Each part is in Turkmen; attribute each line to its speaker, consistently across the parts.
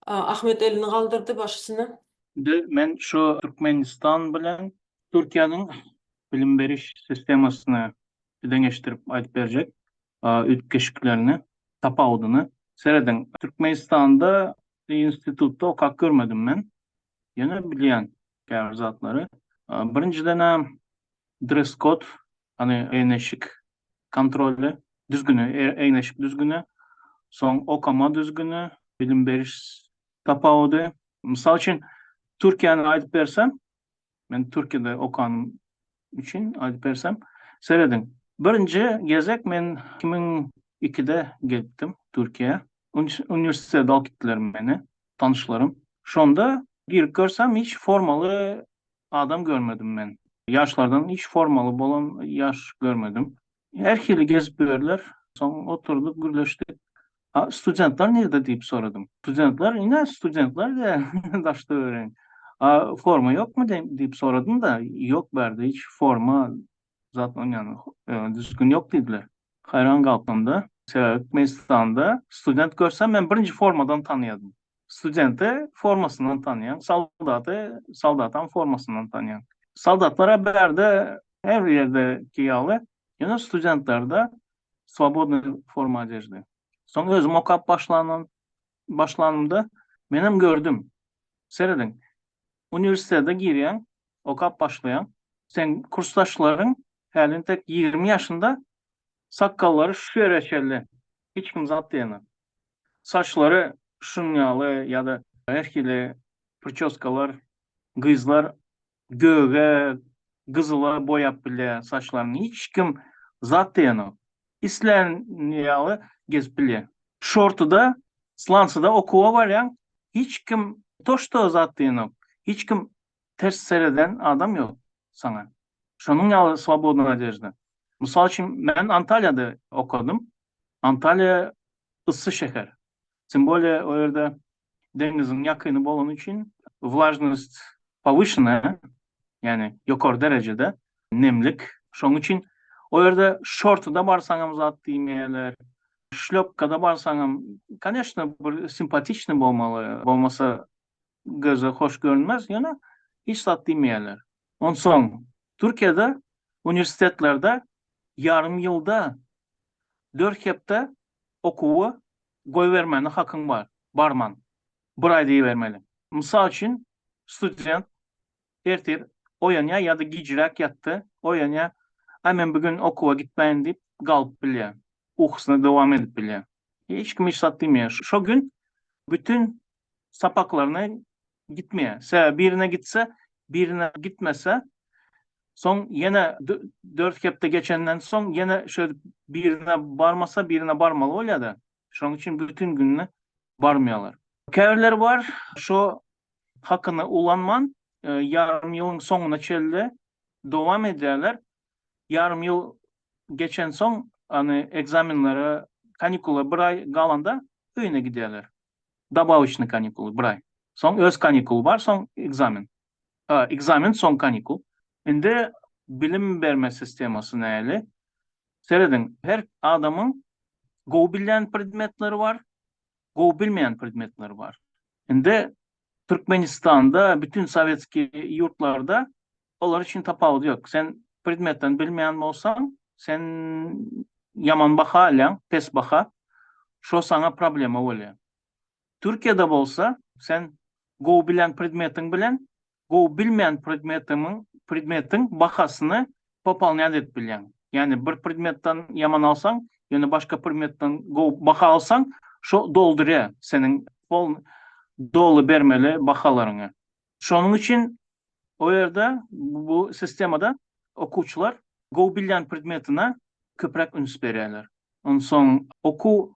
Speaker 1: Ahmet elini galdyrdy başysyna. Indi men
Speaker 2: şu Türkmenistan bilen Türkiýäniň bilim beriş sistemasyny deňeşdirip aýdyp berjek üýtgeşiklerini, tapawudyny. Serediň, Türkmenistanda institutda okap görmedim men. Ýöne bilýän, käbir zatlary. Birinjiden-ä dress-kod, ýagny eýneşik kontrolly düzgüni, eýneşik düzgüni, soň okama düzgüni, bilim beriş tapawudy. Mysal üçin, Türkiýäni aýdyp bersem, men Türkiýede okanym üçin aýdyp bersem, serediň. Birinji gezek men 2002-de gelipdim Türkiýä. Uniwersitete alyp gitdiler meni tanyşlarym. Şonda girip görsem hiç formaly adam görmedim men. Ýaşlardan hiç formaly bolan ýaş görmedim. Her hili gezip ýörler. Soň oturdyk, gürleşdik. A studentler nirde diýip soradym. Studentler ine studentler diýýä daştöweregiň. A forma ýokmy diýip soradym-da, ýok bärde hiç forma zat onýany düzgün ýok diýdiler. Haýran galpdym-da. Sebäbi Türkmenistanda student görsem men birinji formadan tanaýardym. Studenti formasyndan tanýaň, soldaty soldatyň formasyndan tanýaň. Soldatlara bärde her bir ýerdeki ýaly, ýöne studentlerde swobodnyý forma odejdy. Soň özüm okap başlanan başlanymda menem gördüm. Serediň, uniwersitete girýäň, okap başlaýaň. Seň kursdaşlaryň häli entek ýigrimi ýaşynda, sakgallary şu ýere çenli, hiç kim zat diýenok. Saçlary şunuň ýaly ýa-da her hili pričoskalar gyzlar göge, gyzyla boýap bilýär saçlaryny. Hiç kim zat diýenok. Islän ýaly gezip bilýär. Şortyda, slansyda okuwa barýaň, hiç kim toşda zat diýenok. Hiç kim ters sereden adam ýok saňa. Şonuň ýaly swobodna odežda. Mysal üçin, men Antaliýada okadym. Antalýa yssy şäher. Tym bolýa o ýerde deňiziň ýakyny bolany üçin wlajnost powýşenaya, ýagny ýokary derejede nemlik. Şonuň üçin o ýerde şortyda barsaňam zat diýmeýärler, şlýopkada barsaňam, koneşna bir simpatiçny bolmaly, bolmasa göze hoş görünmez, ýöne hiç zat diýmeýärler. Onsoň, Türkiýede uniwersitetlerde ýarym ýylda dört hepde okuwy goýbermäne hakyň bar, barman, bir aý diýibermeli. Mysal üçin, student ertir oýanýar ýa-da gijräk ýatdy, oýanýar, Aý, men bu gün okuwa gitmäýin diýip galyp bilýär, ukusyna dowam edip bilýär. Hiç kim hiç zat diýmeýär. Şo gün bütin sapaklaryna gitmeýär. Sebäbi birine gitse, birine gitmese, soň ýene dört hepde geçenden soň ýene şeýdip birine barmasa, birine barmaly bolýar-da. Şonuň üçin bütin gününe barmaýarlar. Käbirleri bar, şo hakyny ulanman, ýarym ýylyň soňuna çenli dowam edýärler. ýarym ýyl geçensoň, ony ekzamenlere, kanikula bir aý galanda öýüne gidýärler. Dabawyçnyý kanikuly bir aý. Soň öz kanikuly bar, soň ekzamen. A, ekzamen, soň kanikul. Indi bilim berme sistemasy näli? Serediň, her adamyň gowy bilýän predmetleri bar, gowy bilmeýän predmetler bar. Indi Türkmenistanda bütin sowetskiý ýurtlarda olar üçin tapawudy ýok. Sen predmetden bilmeýän bolsaň, sen ýaman baha alýaň, pes baha. Şo saňa problema bolýar. Türkiýede bolsa sen gowy bilen predmetiň bilen gowy bilmeýän predmetiňiň predmetiň bahasyny popolnýat edip bilýäň. Ýagny bir predmetden ýaman alsaň, ýöne başga predmetden gowy baha alsaň, şo doldurýar seniň pol doly bermeli bahalaryňy. Şonuň üçin o ýerde bu sistemada okuwçylar gowy bilýän predmetine köpräk üns berýärler. Onsoň okuw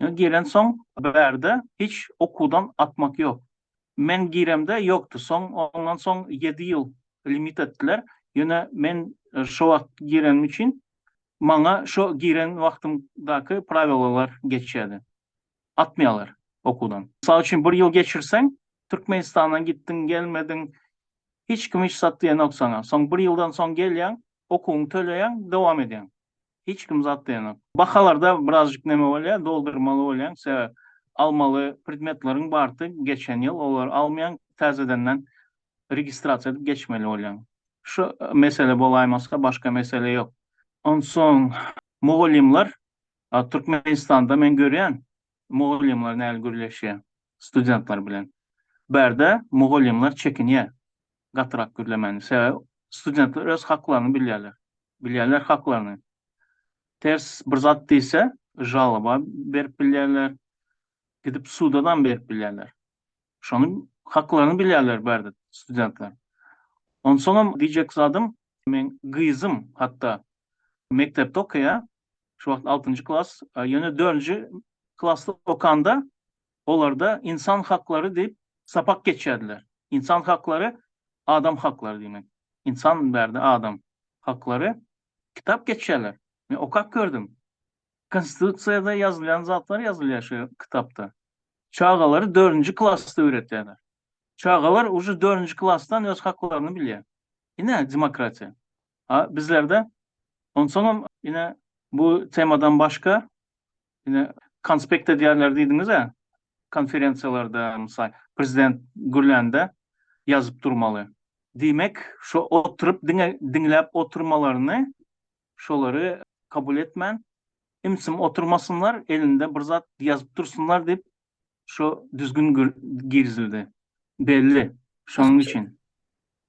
Speaker 2: Ýöne gelensoň bärde hiç okuwdan atmak ýok. Men giremde ýokdy. Soň ondan soň ýedi ýyl limit etdiler. Ýöne men şo wagt girenim üçin maňa şo giren wagtymdaky prawilalar geçýärdi. Atmaýarlar okuwdan. Mysal üçin bir ýyl geçirseň, Türkmenistandan gitdiň, gelmediň, hiç kim hiç zat diýenok saňa. Soň bir ýyldan soň gelýäň, okuwyňy töleýäň, dowam edýäň. hiç kim zat diýenok. Bahalarda birazjyk neme bolýar, doldurmaly bolýaň, sebäp almaly predmetleriň bardy geçen ýyl, olary almaýaň, täzedenden registrasiýa edip geçmeli bolýaň. Şu mesele bolaýmasa, başga mesele ýok. Onsoň mugallymlar Türkmenistanda men görýän, mugallymlar näl gürleşýär studentler bilen. Bärde mugallymlar çekinýär gatyrak gürlemäni, sebäbi studentler öz haklaryny bilýärler. Bilýärler haklaryny. Ters bir zat diýse, žaloba berip bilýärler, gidip suda-dan berip bilýärler. Şonuň haklaryny bilýärler bärde studentler. Onsoňam diýjek zadym, meň gyzym hatda mekdepde okaýar, şu wagt altynjy klas, ýöne dördünji klasda okanda Olarda ynsan haklary diýip sapak geçýärdiler. Ynsan haklary adam haklary diýmek. Ynsan bärde adam haklary kitap geçýärler. Men okap gördüm. Konstitusiýada ýazylýan zatlar ýazylýar şu kitapda. Çagalary dördünji klasda öwretýärler. Çagalar uje dördünji klasdan öz haklaryny bilýär. Ine demokratiýa. A bizlerde onsoňam ine bu temadan başga Ine, konspekt edýärler diýdiňiz-ä, konferensiýalarda, mysal, prezident gürlände ýazyp durmaly. Diýmek, şo oturyp diňe diňläp oturmalaryny, şolary kabul etmän, im-sim oturmasynlar, elinde bir zat ýazyp dursunlar diýip, şo düzgün girizildi. Belli, şonuň üçin.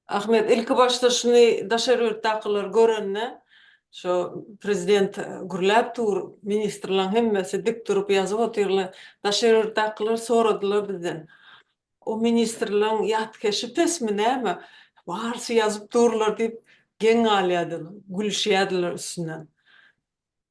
Speaker 2: Ahmet,
Speaker 1: ilki başda şuny daşary ýurtdakylar görende, şo prezident gürläp dur, ministrlaň hemmesi dik durup ýazyp otyrlar. Daşary ýurtdakylar soradylar bizden, O ministrlaň ýatkeşi pesmi näme, barysy ýazyp durlar diýip geň galýardylar, gülüşýärdiler üstünden.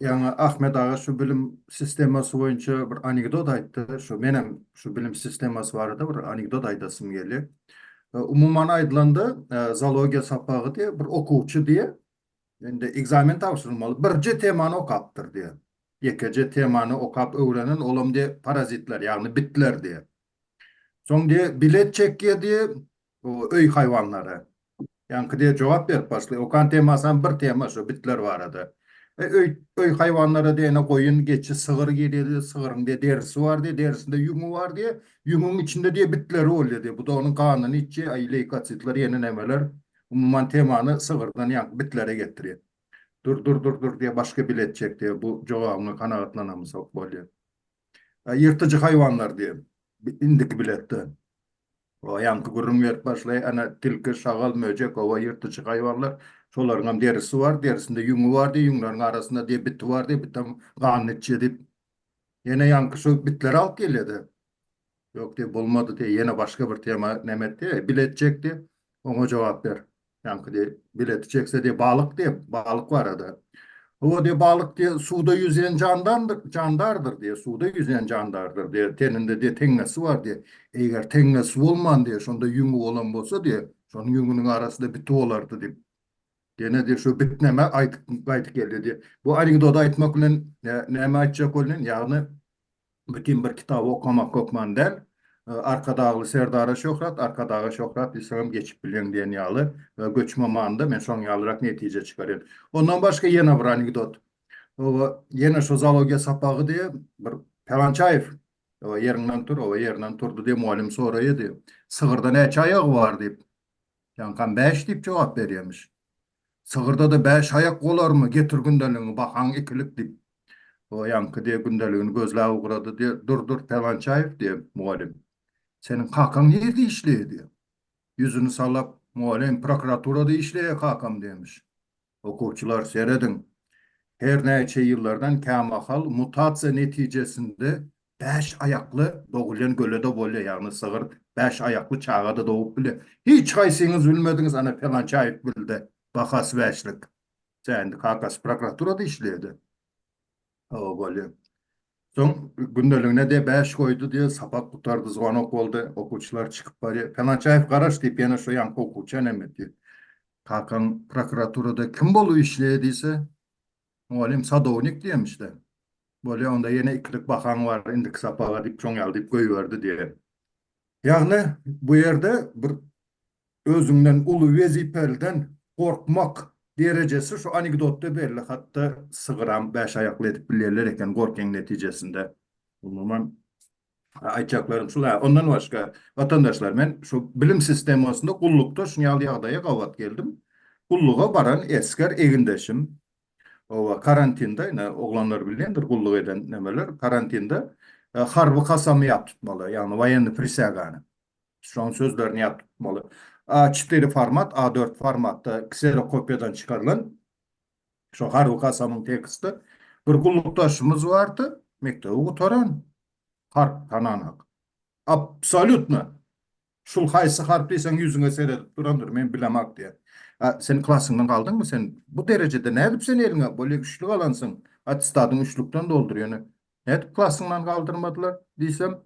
Speaker 1: Ýaňy Ahmet
Speaker 3: aga şu bilim sistemasy boýunça bir anekdot aýtdy. Şu menem şu bilim sistemasy barada bir anekdot aýdasym gelýär. Umuman aýdylanda, zoologiýa sapagy diýe, bir okuwçy diýe, indi ekzamen tabşyrylmaly, birje temany okapdyr diýe. Ýekeje temany okap öwrenen, olam diýe parazitler, ýagny bitler diýe. Soň diýe bilet çekýär diýe, Bu öý haýwanlary. Ýaňky diýe jogap berip başlaýar. Okan temasam bir tema şu bitler barada. E, öý öý haýwanlary diýene goýun, geçi, sygyr girýär. Sygyryň diýe derisi bar diýe, derisinde ýüňi bar diýe. Ýüňüň içinde diýe bitleri bolýar diýe. Bu da onuň ganyny içýär. Aý leýkositler ýene nämeler. Umuman temany sygyrdan ýaňky bitlere getirýär. Dur dur dur dur diýe başga bile etjek diýe. Bu jogabyňa kanagatlanamyzok bolýar. Ýyrtyjy haýwanlar diýe indiki biletde. O ýaňky gürrüň berip başlaýar, Ana, tilki, şagal, möjek, oba ýyrtyjy haýwanlar, şolaryň hem derisi bar, derisinde ýüňi bar diýip, ýüňleriň arasynda diýip, biti bar diýip, bitem ganyny içýär diýip, ýene ýaňky şu bitleri alyp gelýär-de. Ýok diýip, bolmady diýip, ýene başga bir tema näme etdi, bile etjekdi, oňa jogap ber. Ýaňky diýip, bileti çekse diýip, balyk diýip, balyk barada. Hawa diýip, balyk diýip, suwda ýüzýän jandandyr, jandardyr diýip, suwda ýüzýän jandardyr diýip, teninde diýip, teňňesi bar diýip, eger teňňesi bolman diýip, şonda ýüňi bolan bolsa diýip, şonuň ýüňüniň arasynda biti bolardy diýip, ýene diýip, şu bitneme aýdyp gaýdyp geldi diýip. Bu anekdoty aýtmak bilen näme aýtjak bolýan? Ýagny, Bütin bir kitaby okamak hökman däl. Arkadagly Serdara şöhrat, Arkadaga şöhrat diýseňem geçip bilýäň diýen ýaly göçme manyda men şoň ýalyrak netije çykarýan. Ondan başga ýene bir anekdot. Oba, ýene şu zoologiýa sapagy diýe bir Palançaýew oba ýeriňden tur, oba ýerinden turdy diýe mugallym soraýa diýe. Sygyrda näçe aýagy bar diýip. Ýaňkam bäş diýip jogap berýämiş. Sygyrdada bäş aýak bolarmy, getir gündeligiňi bakaň ikilik, diýip, oýanky diýe gündeligini gözläp ugrady, diýe, Dur-dur, Pelwançaýew, diýe, mugallym. Seniň kakaň nirde işleýär, diýe. Ýüzüni salap, Mugallym, prokuraturada işleýär kakam, diýmiş. Okuwçylar, serediň. Her näçe ýyllardan kämahal mutasiýa netijesinde Bäş aýakly dogulýan göle-de bolýar, ýagny sygyr bäş aýakly çaga-da dogup bilýär. Hiç haýsyňyz bilmediňiz, ana, pelançy aýyp bildi, bahasy bäşlik. Tä indi kakasy prokuraturada işleýär-de. Hawa, bolýar. Soň gündeligine diýe bäş goýdy diýe, sapak gutardy, zwanok boldy, okuwçylar çykyp barýar. Pelançy aýyp garaş diýip, ýene şo ýaňky okuwçy äneme diýýär. Kakaň prokuraturada kim bolup işleýär diýse, Mugallym, Sadownik diýemişdä. Bolýa, onda ýene ikilik bahaň bar indiki sapaga diýip, şoň ýaly diýip goýberdi diýen. Ýagny, bu ýerde bir özüňden uly wezipeliden gorkmak derejesi şu anekdotda belli. Hatda sygyram bäş aýakly edip bilýärler eken gorkyň netijesinde. Umuman, Aýtjaklarym şul-a. Ondan başga, watandaşlar, men şu bilim sistemasynda gullukda şuny ýaly ýagdaýa gabat geldim. Gulluga baran esger egindeşim, oba, karantinde, ine, oglanlar bilýändir gulluk eden nemeler, karantinde harby kasamy ýat tutmaly, ýagny woýennyý prisýagany. Şoň sözlerini ýat tutmaly. A çetiri format, A dört formatda kserokopiýadan çykarylan Şo harby kasamyň teksti bir gullukdaşymyz bardy, mekdebi gutaran, harp tananak. Absolýutno! Şul haýsy harp diýseň ýüzüňe seredip durandyr, men bilemak diýen. A sen klasyňdan galdyňmy? Sen bu derejede nädip sen eliňe bolýa üçlük alansyň, attestadyňy üçlükden doldur ýöne nädip klasyňdan galdyrmadylar diýsem,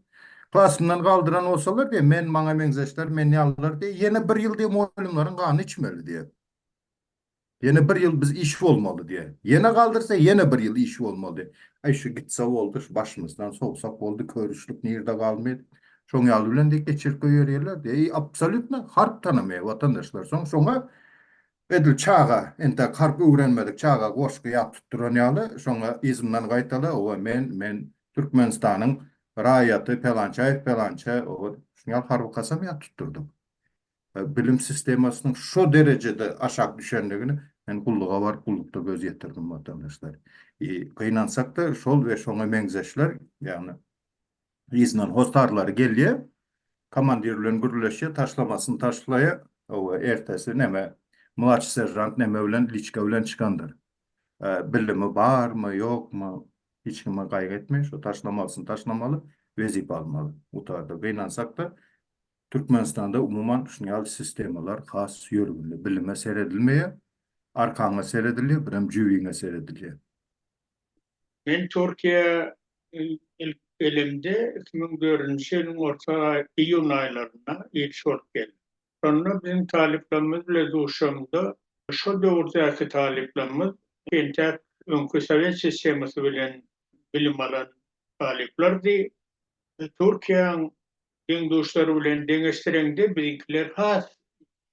Speaker 3: klasymdan galdyran bolsalar diýen, men maňa meňzeşler, men ýalylar diýen, ýene bir ýyl diýen mugallymlaryň ganyny içmeli diýen. Ýene bir ýyl biz iş bolmaly diýen. Ýene galdyrsa ýene bir ýyl iş bolmaly diýen. Aý şu gitse boldy, şu başymyzdan sowsak boldy, körüşlik nirde galmyr. Şoň ýaly bilen de geçirip goýberýärler diýen. Eý absolýutno harp tanamaýar watandaşlar. Soň şoňa edil çaga entäk harp öwrenmedik çaga goşgy ýap tutduran ýaly şoňa yzyndan gaýtala owa men men Türkmenistanyň raýaty Pelançaýew Pelança owa şuňal harby kasam ýap tutdurdyk. bilim sistemasynyň şo derejede aşak düşendigini men gulluga baryp gullukda göz ýetirdim watandaşlar. I gynansakda şol we şoňa meňzeşler ýagny yzyndan hossarlary gelýä komandir bilen gürleşýä taşlamasyny taşlaýa owa ertesi neme mlaçy seržant neme bilen liçka bilen çykandyr bilimi barmy ýokmy hiç kime gaýgy etmeý şo taşlamalysyny taşlamaly wezipe almaly gutardy gynansakda Türkmenistanda umuman şuny ýaly sistemalar has ýörgünli. Bilime seredilmeýär. Arkaňa seredilýär, birem jübiňe seredilýär.
Speaker 4: Men Türkiýä ilk gelimde iki müň dördünji ýylyň orta iýun aýlarynda ilçi bolup geldim. Şonda biziň talyplarymyz bilen duşamda şo döwürdäki talyplarymyz entäk öňki sowet sistemasy bilen bilim alan talyplardy. Türkiýäň Deň-duşlary bilen deňeşdireňde biziňkiler has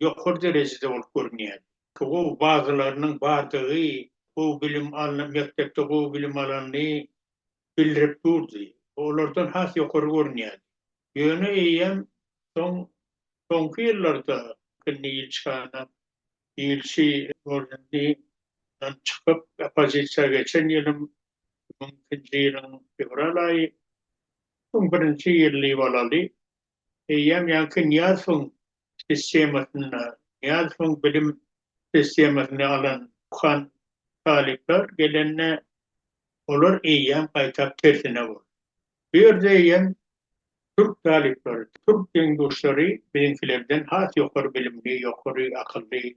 Speaker 4: ýokary derejede bolup görünýär. Gowy bazalarynyň bardygy, gowy bilim alnan, mekdepde gowy bilim alanyny bildirip durdy. Bu olardan has ýokary görünýärdi. Ýöne eýýäm soň, soňky ýyllarda indi ilçihana, ilçi ornundan çykyp, oppozisiýa geçen ýylym, iki müň ikinji ýylyň fewral aýy, Soň birinji ýerli bolaly. Eýýäm ýaňky Nyýazowyň sistemasynda, Nyýazowyň bilim sistemasyny alan okan talyplar gelende, olar eýýäm gaýtap tersine boldy. Bu ýerde eýýäm türk talyplary, türk deň-duşlary biziňkilerden has ýokary bilimli, ýokary akylly,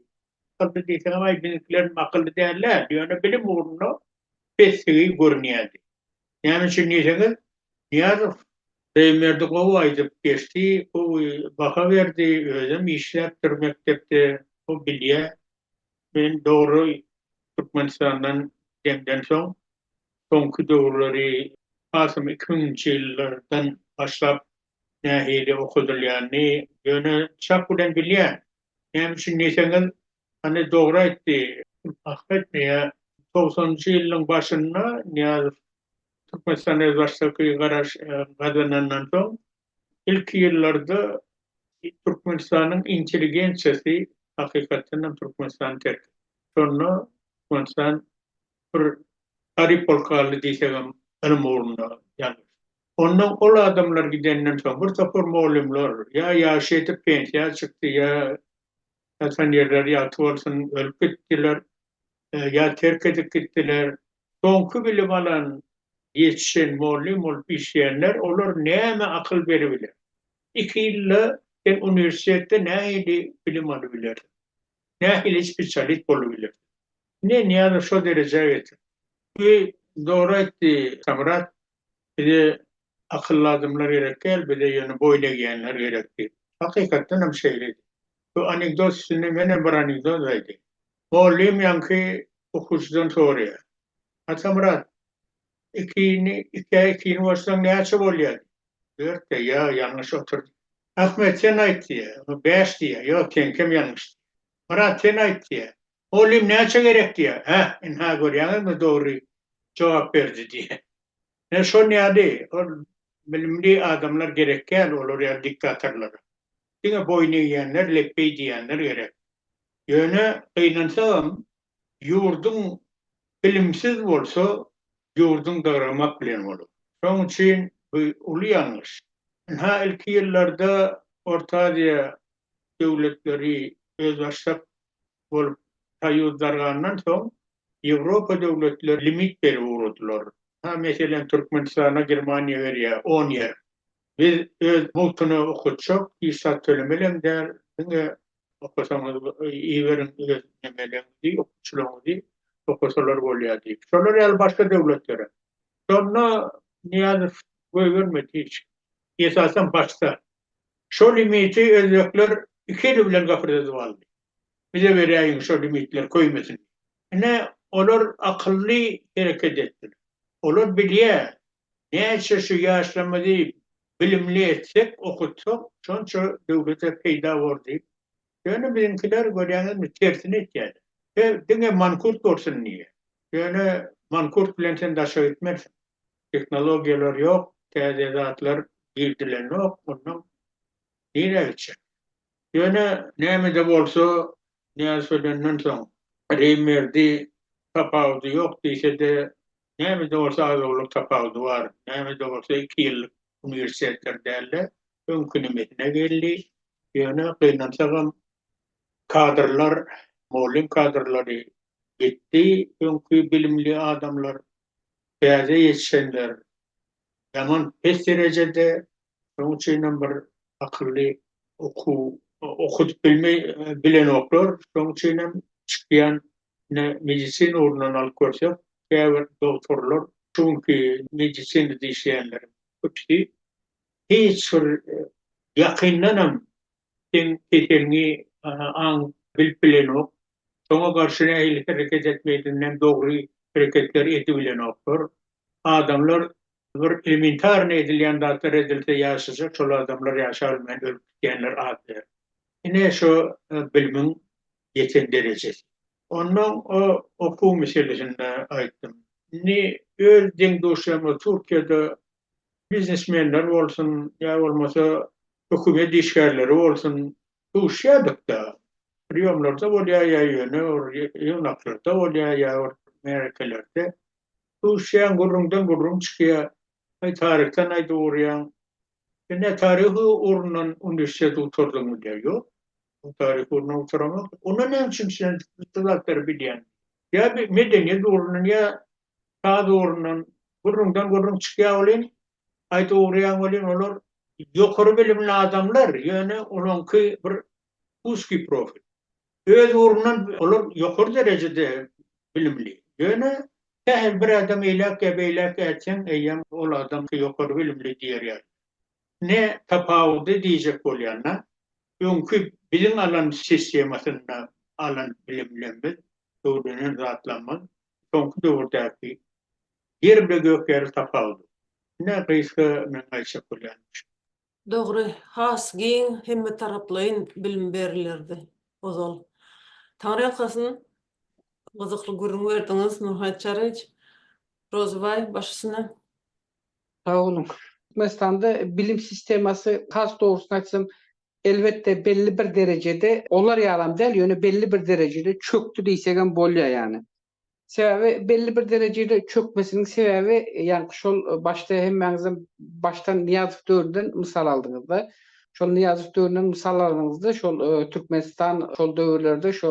Speaker 4: akylly diýseňem, aý, biziňkilerem akylly däl-ä, ýöne bilim ugrunda pessigi görünýärdi. Näme üçin diýseňiz, Nyýazow Reýmberdi gowy aýdyp geçdi, gowy baha berdi, özem işläpdir mekdepde, o bilýär. Men dogry Türkmenistandan gidemden soň, soňky döwürleri hasam iki müňünji ýyllardan başlap nähili okadylýanyny ýöne çak bilen bilýän. Näme üçin diýseňiz, Hany dogry aýtdy, haky aýtmaýa. Togsanynjy ýylyň başynda Nyýazow Türkmenistan özbaşdaky garaş gazanandan soň ilki ýyllarda Türkmenistanyň intelligensiýasy hakykatdan hem Türkmenistany terk etdi. Şonda Türkmenistan bir garyp bolup galdy diýsegem ylym ugrunda ýalňyşdy. Ondan ol adamlar gidenden soň bir topar mugallymlar ýa ýaşy ýetip pensiýa çykdy ýa Ýatan ýerleri ýagty bolsun, ölüp gitdiler, ýa terk edip gitdiler. Soňky bilim alan, ýetişen, mollym bolup işleýänler, olar näme akyl beribiler? Iki ýylda sen uniwersitetde nähili bilim alybilersiň? Nähili spesialist bolubilersiň? Ine, Nyýazow şo derejä getirdi. Zor aýtdy Samyrat. Bize Akylly adamlar gerek däl, bize ýöne boýun egýänler gerek diýip. Hakykatdan hem şeýledi. Bu anekdot üstünde men hem bir anekdot aýdaýyn. Mugallym ýaňky okuwçydan soraýar. Atamyrat, ikini, ikä ikini goşsaň näçe bolýar? diýip. Dört diýýär. Ýa, ýalňyş otur diýýär. Ahmet, sen aýt diýýär. O bäş diýýär. Ýok, seňkem ýalňyş diýýär. Myrat, sen aýt diýýär. Mugallym näçe gerek diýýär. Hä, ynha görýäňizmi, dogry jogap berdi diýýär. Ine şon ýaly ol bilimli adamlar gerek däl olar ýaly diktatorlara. Diňe boýun egýänler, lepbeý diýýänler gerek. Ýöne gynansagam ýurduň bilimsiz bolsa ýurduň dygramak bilen bolar. Şoň üçin bu uly ýalňyş. Ynha ilki ýyllarda Orta Aziýa döwletleri özbaşdak bolup taýýuzdargandan soň, Ýewropa döwletleri limit berip ugradylar. Ha, meselem, Türkmenistana Germaniýa berýär on ýer. Biz öz mugtuna okatjak, hiç zat tölemelem däl, diňe okasaňyz iberiň öz nemeleriňizi, okuwçylaryňyzy okasalar bolýar diýip. Şolar ýaly başga döwletlerem. Şonda Nyýazow goýbermedi hiç. Esasan başda. Şo limiti özbekler iki eli bilen gapyrdadyp aldy. Bize beräýiň şo limitler köýmesin. Ine, olar akylly hereket etdiler. Olar bilýär, näçe şu ýaşlarymyzy bilimli etsek, okutsak, şonça döwlete peýda bor diýip. Ýöne biziňkiler, görýäňizmi, tersini etýärler. He, diňe mankurt bolsun diýýär. Ýöne mankurt bilen sen daşa gitmersiň. Tehnologiýalar ýok, täze zatlar girdilendok, onnoň nirä gitjek? Ýöne näme-de bolsa, Nyýazow ölenden soň, Reýmberdi tapawudy ýok diýse-de, näme-de bolsa az-owlak tapawudy bar. Näme-de bolsa iki ýyllyk uniwersitetleri däl-de, öňki nimesine geldi. Ýöne gynansagam, kadrlar, mugallym kadrlary gitdi, öňki bilimli adamlar, täze ýetişenler Ýaman pes derejede, şonuň üçinem bir akylly okuw okudyp bilmeý bilenoklar, şonuň üçinem çykýan ine medisina ugrundan alyp görsek, käbir dogtorlar şu günki medisinada işleýänleriň köpüsi hiç bir ýakyndanam Seň keseliňi aň bilip bilenok. Şoňa garşy nähili hereket etmelidiginden dogry hereketler edibilenoklar. Adamlar bir elementarnyý edilýän zatlar edilse ýaşajak şol adamlar ýaşabilmän ölüp gidýänler az däl. Ine şo bilimiň ýeten derejesi. Onnoň o okuw meselesinde aýtdym. Indi öz deň-duşlarymyz Türkiýede Biznesmenler bolsun, ýa bolmasa hökümet işgärleri bolsun, duşýardyk-da. Priýomlarda bolýar ýa ýöne bir ýygnaklarda bolýar, ýa bir märekelerde. Duşýaň, gürrüňden gürrüň çykýar. Aý, taryhdan aýdyp urýaň. Sen nä taryhy ugrundan uniwersitet gutardyňmy diýýär. Ýok, men taryhy ugrundan gutaramok. Onda näme üçin sen bu zatlary bilýäň? Ýa bir medeniýet ugrundan, ýa Saz ugrundan gürrüňden gürrüň çykýar welin, aýdyp ugraýan welin olar ýokary bilimli adamlar, ýöne olaňky bir uzkyý profil. Öz ugrundan olar ýokary derejede bilimli, ýöne sähel bir adam eýläk ýa beýläk ätseň eýýäm ol adam ýokary bilimli diýer ýaly. Ne tapawudy diýjek bolýanda, öňki biziň alan sistemasynda alan bilimlerimiz, öwrenen zatlarymyz Soňky döwürdäki ýer bile gök ýaly tapawudy. Ine gysga men aýtjak bolýan şu. Dogry,
Speaker 1: has giň hemmetaraplaýyn bilim berilerdi ozal. Taňryýalkasyn, gyzykly gürrüň berdiňiz, Nurhaýt Çaryýewiç, Rozybaý, baş üstüne. Sag
Speaker 5: boluň. Türkmenistanda bilim sistemasy has dogrusyn aýtsam Elbetde belli bir derejede olar ýalam däl, ýöne belli bir derejede çökdi diýsegem bolýar ýany. Sebäbi belli bir derejede çökmesiniň sebäbi ýaňky şol başda hemmäňizem başdan Nyýazow döwründen mysal aldyňyzda. Şol Nyýazow döwründen mysal alanyňyzda şol Türkmenistan şol döwürlerde şo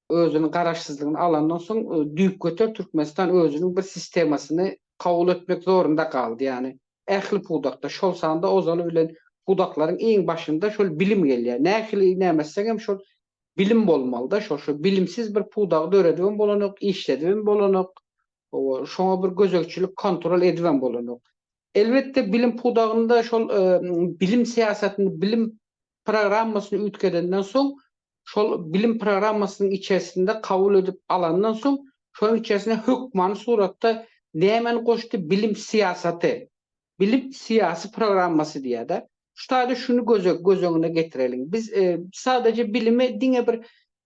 Speaker 5: özüniň garaşsyzlygyny alandan soň düýpgöter Türkmenistan özüniň bir sistemasyny kabul etmek zorunda galdy ýany. ähli pudakda, şol sanda ozaly bilen pudaklaryň iň başynda şol bilim gelýär. Nähili näme etsegem şol bilim bolmalyda, şo şo bilimsiz bir pudagy döredibem bolanok, işledibem bolanok, owa şoňa bir gözegçilik kontrol edibem bolanok. Elbetde bilim pudagynda şol bilim syýasatyny, bilim programmasyny üýtgedenden soň, şol bilim programmasynyň içersinde kabul edip alandan soň, şonuň içersine hökmany suratda nämäni goşdy, bilim syýasaty, bilim syýasy programmasy diýýär-de. Şu taýda şuny göz öňüne getireliň. Biz sadaja bilimi diňe bir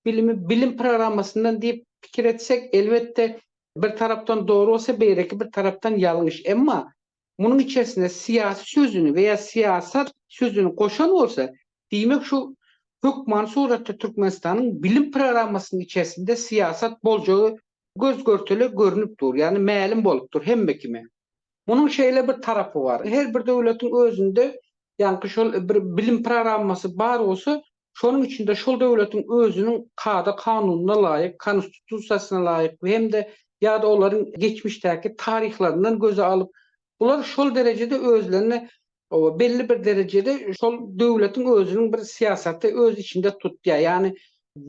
Speaker 5: bilimi bilim programmasyndan diýip pikir etsek, elbetde, bir tarapdan dogry bolsa, beýleki bir tarapdan ýalňyş. Emma munuň içersine syýasy sözüni we ýa syýasat sözüni goşan bolsa, diýmek şol hökmany suratda Türkmenistanyň bilim programmasynyň içersinde syýasat boljagy göz-görtele görnüp dur, ýagny mälim bolup dur hemme kime. Munuň şeýle bir tarapy bar, her bir döwletiň özünde ýaňky şol bir bilim programmasy bar bolsa, şonuň içinde şol döwletiň özüniň kada-kanunyna laýyk, konstitusiýasyna laýyk we hem-de ýa-da olaryň geçmişdäki taryhlaryndan göze alyp, bular şol derejede özlerini belli bir derejede şol döwletiň özüniň bir syýasaty öz içinde tutýar. Ýagny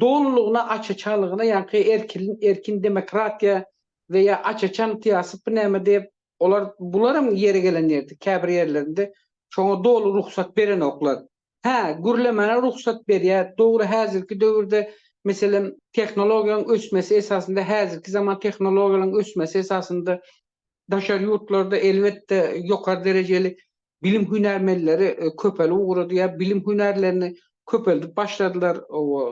Speaker 5: dolulygyna aç-açanlygyna ýaňky erkilin erkin demokratiýa we ýa aç-açan syýasatmy näme diýip, olar bularam ýeri gelen ýerde käbir ýerlerinde şoňa doly rugsat berenoklar. Hä, gürlemäne rugsat berýär. Dogry, häzirki döwürde, meselem, tehnologiýaň ösmesi esasynda, häzirki zaman tehnologiýalaryň ösmesi esasynda daşary ýurtlarda, elbetde, ýokary derejeli bilim hünärmenleri köpelip ugrady ýa bilim hünärlerini köpeldip başladylar.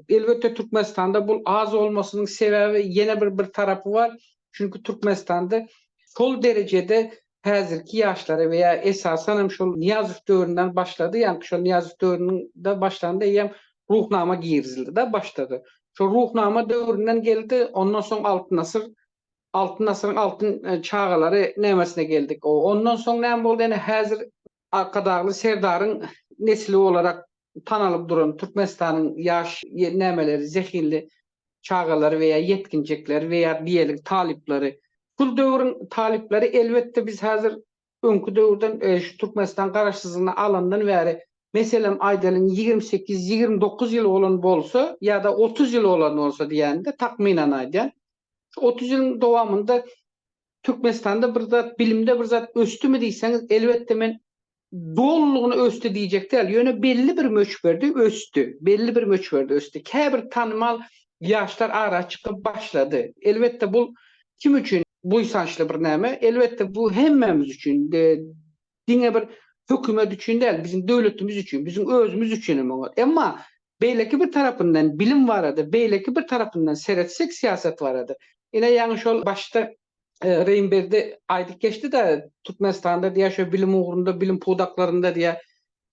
Speaker 5: Elbetde, Türkmenistanda bul az bolmasynyň sebäbi ýene bir bir tarapy bar. Çünki Türkmenistanda şol derejede häzirki ýaşlara we ýa esasan hem şol Nyýazow döwründen başlady, ýaňky şol Nyýazow döwründe başlandy eýýäm Ruhnama girizildi-de başda-da. Şol Ruhnama döwründen geldi, ondan soň Altyn asyr, Altyn asyryň altyn çagalary nämesine geldik. Ondan soň näme boldy ene häzir Arkadagly Serdaryň nesli olarak tanalyp duran Türkmenistanyň ýaş nämeleri, zehinli çagalary we ýa ýetginjekleri we ýa diýeli talyplary. Şul döwrüň talyplary elbetde biz häzir öňki döwürden şu Türkmenistan garaşsyzlygyny alandan bäri meselem aýdalyň ýigrimi sekiz, ýigrimi dokuz ýyl bolan bolsa ýa-da otuz ýyl bolan bolsa diýäýinde takmynan aýdýan. Şu otuz ýylyň dowamynda Türkmenistanda bir zat, bilimde bir zat ösdümi diýseňiz elbetde men dolulygyna ösdi diýjek däl, ýöne belli bir möçberde ösdi, belli bir möçberde ösdi. Käbir tanymal ýaşlar ara çykyp başlady. Elbetde bul kim üçin buýsançly bir näme? Elbetde bu hemmämiz üçin, diňe bir hökümet üçin däl, biziň döwletimiz üçin, biziň özümiz üçin hem oňat. Emma beýleki bir tarapyndan bilim barada, beýleki bir tarapyndan seretsek syýasat barada, ine ýaňy şol başda e, Reýim Berdi aýdyp geçdi-de, Türkmenistanda diýýär, şo bilim ugrunda, bilim pudaklarynda diýýär,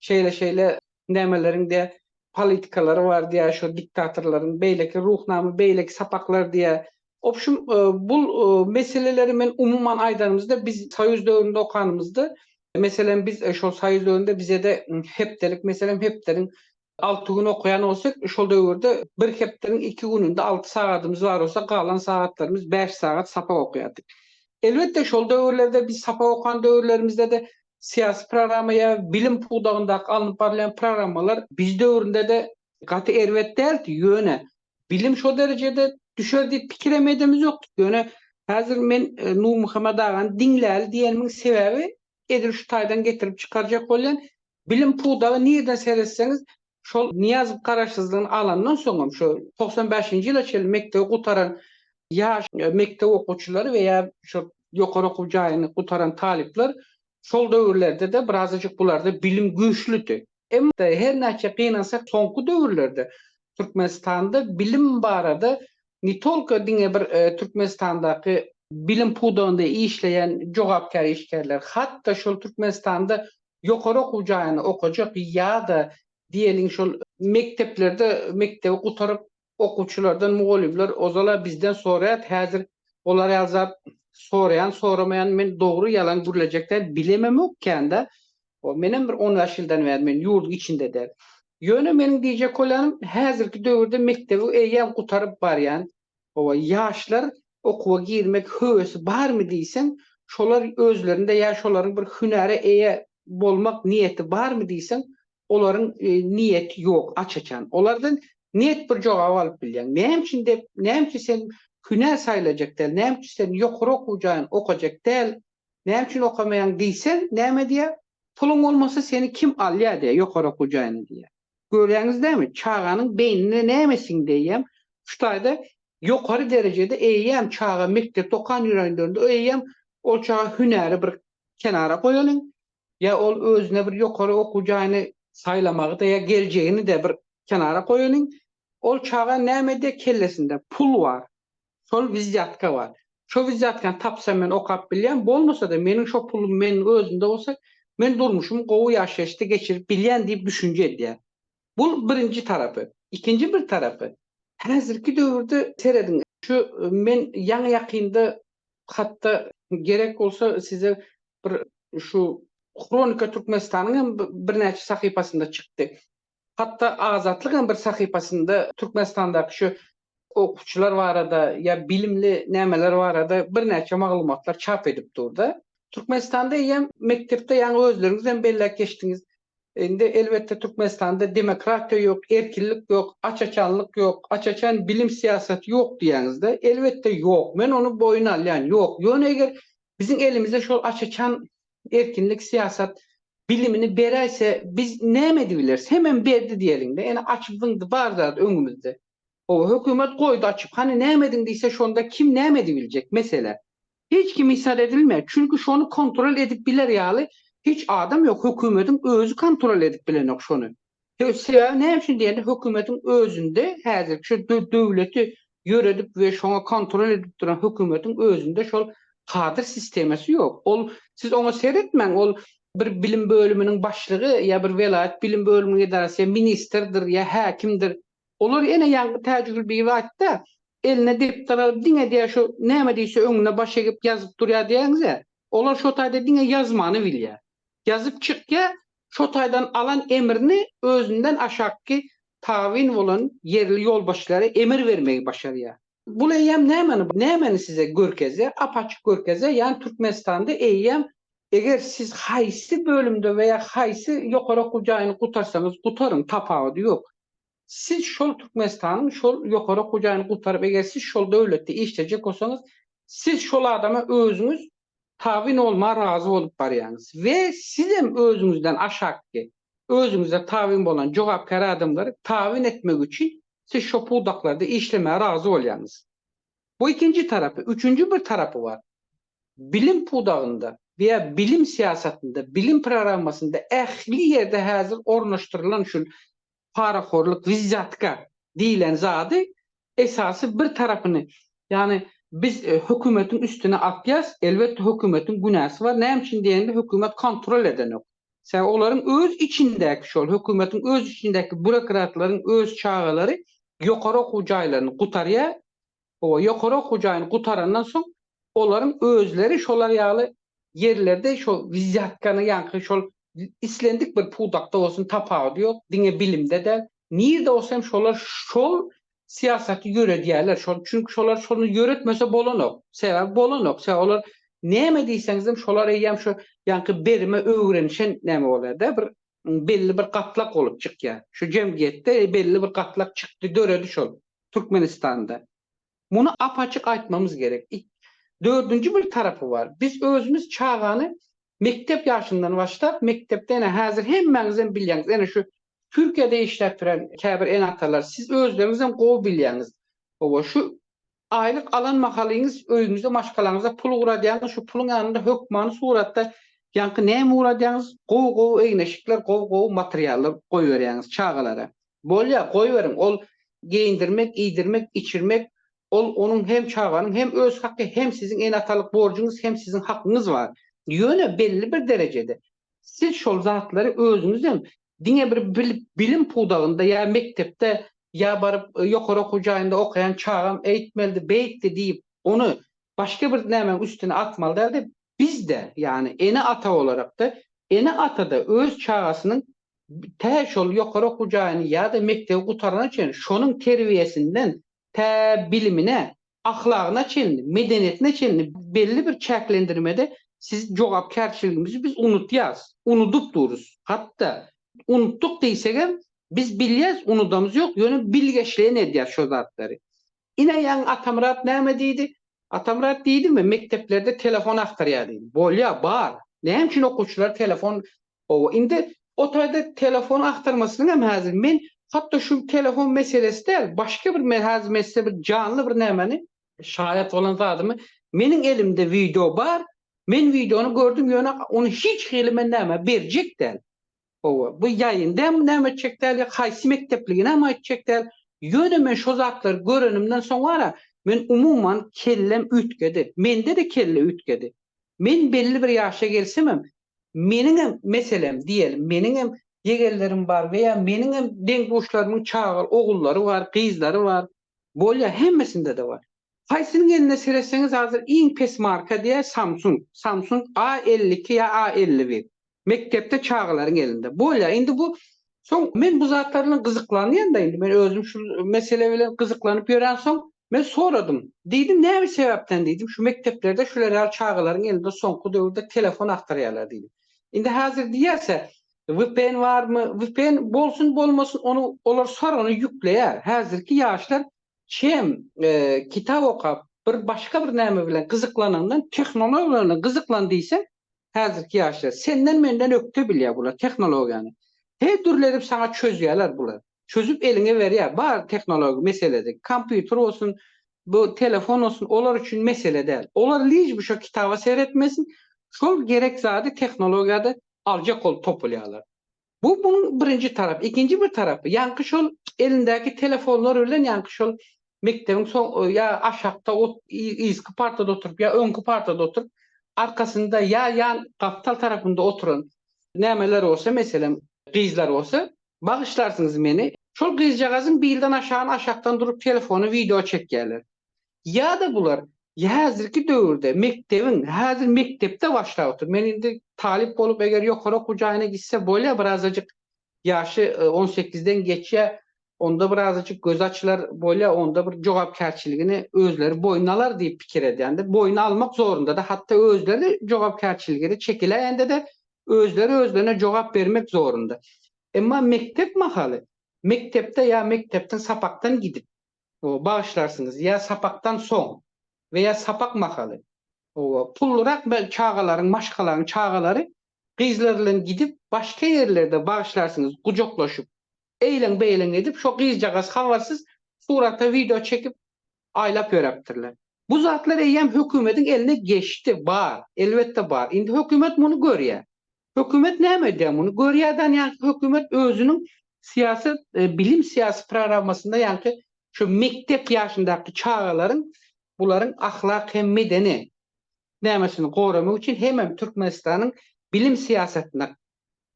Speaker 5: şeýle-şeýle nämeleriň diýýär, politikalary bar diýýär, şo diktatorlaryň beýleki ruhnama, beýleki sapaklar diýýär. Obşum, e, bu e, meseleleri men umuman aýdanymyzda, biz soýuz döwründe okanymyzda, meselem, biz e, şol soýuz döwründe bize-de hepdelik, meselem, hepdeliň Alty gün okaýan bolsak, şol döwürde bir hepdäniň iki gününde alty sagadymyz bar bolsa, galan sagatlarymyz bäş sagat sapak okaýardyk. Elbetde, şol döwürlerde biz sapak okan döwürlerimizde-de syýasy programma ýa bilim pudagyndaky alnyp barylýan programmalar biz döwründe-de gaty erbet däldi. Ýöne bilim şo derejede düşer diýip pikir hem edemizokdy. Ýöne häzir men Nurmuhammet agany diňläli diýenimiň sebäbi edil şu taýdan getirip çykarjak bolýan bilim pudagy nireden seretseňiz şol Nyýazow garaşsyzlygyny alandan soňam şu togsan bäşinji ýyla çenli mekdebi gutaran ýaş mekdep okuwçylary we ýa şu ýokary okuw jaýyny gutaran talyplar şol döwürlerde-de birazajyk bularda bilim güýçlüdi. Emma her näçe gynansak soňky döwürlerde Türkmenistanda bilim barada ne tolko diňe bir Türkmenistandaky bilim pudagynda işleýän jogapkär işgärler, hat-da şol Türkmenistanda ýokary okuw jaýyny okajak ýa-da diýeliň şol mekdeplerde mekdebi gutaryp okuwçylardan mugallymlar ozal-a bizden soraýar, häzir olar ýaly zat soraýan-soramaýan men dogry-ýalan gürlejek däl, bilememok kän-de, O, menem bir on bäş ýyldan bäri men ýurduň içinde-de. Ýöne meniň diýjek bolýanym, häzirki döwürde mekdebi eýýäm gutaryp barýan, hawa, ýaşlar okuwa girmek höwesi barmy diýseň, şolar özlerinde ýa şolaryň bir hünäre eýe bolmak niýeti barmy diýseň, olaryň niýeti ýok, aç-açan. Olardan net bir jogaby alyp bilýäň. Näme üçin dep, näme üçin sen hünär saýlajak däl, näme üçin sen ýokary okuw jaýyny okajak däl? Näme üçin okamaýaň diýseň, näme diýýär? Puluň bolmasa seni kim alýar diýýär, ýokary okuw jaýyna diýýär. Görýäňiz dämi, çaganyň beýnine näme siňdi eýýäm? Şu taýda ýokary derejede eýýäm çaga mekdepde okan ýörenlerinde eýýäm ol çaga hünäri bir kenara goýalyň, ýa ol özüne bir ýokary okuw jaýyny saýlamagy-da ýa geljegini-de bir kenara goýalyň, ol çaga näme diýýär kellesinde? Pul bar. Şol wizýatka bar. Şo wizýatkany tapsam men okap bilýän, bolmasa-da meniň şo pulum meniň özümde bolsa, men durmuşymy gowy ýaşaýyşda geçirip bilýän diýip düşünje edýär. Bul birinji tarapy. Ikinji bir tarapy, häzirki döwürde serediň, şu men ýaňy-ýakynda hat-da gerek bolsa size bir şu Hronika Türkmenistanyň hem birnäçe sahypasynda çykdy. Hatda Azatlyk hem bir sahypasynda Türkmenistandaky şu okuwçylar barada ýa bilimli nämeler barada birnäçe maglumatlar çap edip dur-da. Türkmenistanda eýýäm mekdepde ýaňy özleriňiz hem belläp geçdiňiz. Indi elbetde Türkmenistanda demokratiýa ýok, erkinlik ýok, aç-açanlyk ýok, aç-açan bilim syýasaty ýok diýýäňiz-de. Elbetde ýok. Men ony boýun alýan. Ýok. Ýöne eger biziň elimizde şol aç-açan erkinlik syýasat bilimini beräýse biz näme edibileris hemem berdi diýeliňde ene açyp zyňdy bar zat öňümizde howa hökümet goýdy açyp hany näme ediň diýse şonda kim näme edibiljek mesele hiç kim isar edilmeýär çünki şony kontrol edip biler ýaly hiç adam ýok hökümediň özi kontrol edip bilenok şony Sebäbi näme üçin diýende, hökümetiň özünde häzirki şu döwleti ýöredip we şoňa kontrol edip duran hökümetiň özünde şol kadr sistemasy ýok. Ol, siz oňa seretmäň, ol bir bilim bölüminiň başlygy ýa bir welaýat bilim bölüminiň edarasy ýa ministrdir ýa häkimdir. Olar ene ýaňky Täjigül bibi aýtdy-a, eline depder alyp diňe diýýär şu näme diýse öňüne baş egip ýazyp durýar diýýäňiz-ä. Olar şo taýda diňe ýazmany bilýär. Ýazyp çykýar, Şo taýdan alan emrini özünden aşakky tabyn bolan ýerli ýolbaşçylara emir bermegi başarýar. Bul eýýäm nämäni, nämäni size görkezýär? Ap-açyk görkezýär, ýagny Türkmenistanda eýýäm eger siz haýsy bölümde we ýa haýsy ýokary okuw jaýyny gutarsaňyz gutaryň, tapawudy ýok. Siz şol Türkmenistanyň şol ýokary okuw jaýyny gutaryp, eger siz şol döwletde işlejek bolsaňyz, siz şol adama özüňiz tabyn bolmaga razy bolup barýaňyz we siz hem özüňizden aşakky, özüňize tabyn bolan jogapkär adamlary tabyn etmek üçin siz şo pudaklarda işlemäge razy bolýaňyz. Bu ikinji tarapy. Üçünji bir tarapy bar. Bilim pudagynda we bilim syýasatynda, bilim programmasynda ähli ýerde häzir ornaşdyrylan şu parahorlyk, wizýatka diýlen zady esasy bir tarapyny, ýagny biz hökümetiň üstüne atýas, elbetde hökümetiň günäsi bar, näme üçin diýende hökümet kontrol edenok. Sebäbi olaryň öz içindäki şol hökümetiň öz içindäki burokratlaryň öz çagalary ýokary okuw jaýlaryny gutarýar, Oba, ýokary okuw jaýyny gutarandan soň, olaryň özleri şolar ýaly ýerlerde şo wizýatkany ýaňky şol islendik bir pudakda bolsun tapawudy ýok, diňe bilimde däl, nirde bolsa hem şolar şol syýasaty ýöredýärler. Şol, çünki şolar şony ýöretmese bolanok. Sebäbi bolanok. Sebäbi olar näme diýseňizem şolar eýýäm şu ýaňky berime öwrenişen näme bolýar-da, bir belli bir gatlak bolup çykýar. Şu jemgyýetde belli bir gatlak çykdy, döredi şol. Türkmenistanda. Muny ap-açyk aýtmamyz gerek. Dördünji bir tarapy bar. Biz özümiz çagany mekdep ýaşyndan başlap, mekdepde ene häzir hemmäňizem bilýäňiz, ene şu Türkiýede işläp ýören käbir ene-atalar, siz özleriňizem gowy bilýäňiz. Hawa, şu aýlyk alan mahalyňyz öýüňizde maşgalaňyza pul ugradýaňyz, şu puluň ýanynda hökmany suratda ýaňky näme ugradýaňyz, gowy-gowy egin-eşikler, gowy-gowy materiallar goýberýäňiz çagalara. Bolýar, goýberiň, ol geýindirmek, iýdirmek, içirmek, ol onuň hem çaganyň hem öz haky, hem siziň ene-atalyk borjuňyz, hem siziň hakyňyz bar. Ýöne belli bir derejede siz şol zatlary özüňizem diňe bir bilim pudagynda ýa mekdepde ýa baryp ýokary okuw jaýynda okaýan çagam eýtmelidi, beýtdi diýip, ony başga bir nämäň üstüne atmaly däl-de, biz-de, ýagny ene-ata bolarak-da, ene-ata-da öz çagasynyň tä şol ýokary okuw jaýyny ýa-da mekdebi gutarana çenli şonuň terbiýesinden tä bilimine, ahlagyna çenli, medeniýetine çenli belli bir çäklendirmede siz jogapkärçiligimizi biz unudýas, unudyp durus. Hatda unutdyk diýsegem biz bilýäs unudamyz ýok, ýöne bilgeşleýin edýäs şo zatlary. Ine ýaňy Atamyrat näme diýdi? Atamyrat diýdimi mekdeplerde telefon agtarýar diýdi. Bolýar, bar. Näme üçin okuwçylar telefon Hawa, indi o taýda telefon agtarmasynyň hem häzir men hatda şu telefon meselesi däl, başga bir men häzir men size bir janly bir nämäni, şaýat bolan zadymy, meniň elimde wideo bar, men wideony gördüm, ýöne ony hiç hili men nämä berjek däl. Hawa, bu ýaýynda hem näme etjek däl, ýa haýsy mekdepligini hem aýtjak däl, ýöne men şo zatlary görenimden soň wara, men umuman kellem üýtgedi. Mende-de kelle üýtgedi. Men belli bir ýaşa gelsemem, Meniňem, meselem, diýeli, meniňem jegerlerim bar we ýa meniňem deň-duşlarymyň çaga ogullary bar, gyzlary bar. Bolýar, hemmesinde-de bar. Haýsynyň eline seretseňiz hazir iň pes marka diýer Samsung, Samsung A elli iki ýa A elli bir. Mekdepde çagalaryň elinde. Bolýar, indi bu Soň men bu zatlar bilen gyzyklanýan-da indi, men özüm şu mesele bilen gyzyklanyp ýörensoň, men soradym. Diýdim, näme sebäpden diýdim, şu mekdeplerde şular ýaly çagalaryň elinde soňky döwürde telefon agtarýarlar diýdim. Indi häzir diýýärse, vpn barmy, vpn bolsun bolmasyn, ony olar sorany ýükleýär. Häzirki ýaşlar çem kitap okap, bir başga bir näme bilen gyzyklanandan tehnologiýa bilen gyzyklan diýseň, häzirki ýaşlar senden menden ökde bilýär bular tehnologiýany her dürli edip saňa çözýärler bular çözüp eliňe berýär bar tehnologik meselede kompýuter bolsun bu telefon bolsun olar üçin mesele däl olar lij bu şo kitaba seretmesin şol gerek zady tehnologiýada aljak bolup topulýarlar Bu munuň birinji tarapy. Ikinji bir tarapy, ýaňky şol elindäki telefonlar bilen ýaňky şol mekdebiň soň ýa aşakda ot yzky partada oturyp ýa öňki partada oturyp arkasynda ýa ýan gapdal tarapynda oturan nämeler bolsa meselem gyzlar bolsa bagyşlarsyňyz meni şol gyzjagazyň bilden aşagyny aşakdan durup telefony wideo çekýärler. Ýa-da bular häzirki döwürde mekdebiň, häzir mekdepde başlap otur. Men indi talyp bolup eger ýokary okuw jaýyna gitse bolýar birazajyk ýaşy on sekizden geçýär, onda birazajyk gözi açylar bolýar, onda bir jogapkärçiligini özleri boýun alar diýip pikir edýändir. Boýun almak zorunda-da, hatda özleri jogapkärçiligini çekiläýende-de özleri özlerine jogap bermek zorunda. Emma mekdep mahaly, mekdepde ýa mekdepden sapakdan gidip, bagyşlarsyňyz ýa sapakdan soň we ýa sapak mahaly pullyrak çagalaryň maşgalaň çagalary gyzlar bilen gidip başga ýerlerde bagyşlarsyňyz gujaklaşyp eýleň beýleň edip şo gyzjagaz habarsyz surata wideo çekip aýlap ýöräpdirler bu zatlar eýýäm hökümediň eline geçdi bar elbetde bar indi hökümet muny görýä Hökümet näme edýär muny görýärden ýaňky hökümet özüniň syýasy bilim syýasy programmasynda ýaňky şu mekdep ýaşyndaky çagalaryň bularyň ahlak hem medeni nämesini goramak üçin hemem Türkmenistanyň bilim syýasatyna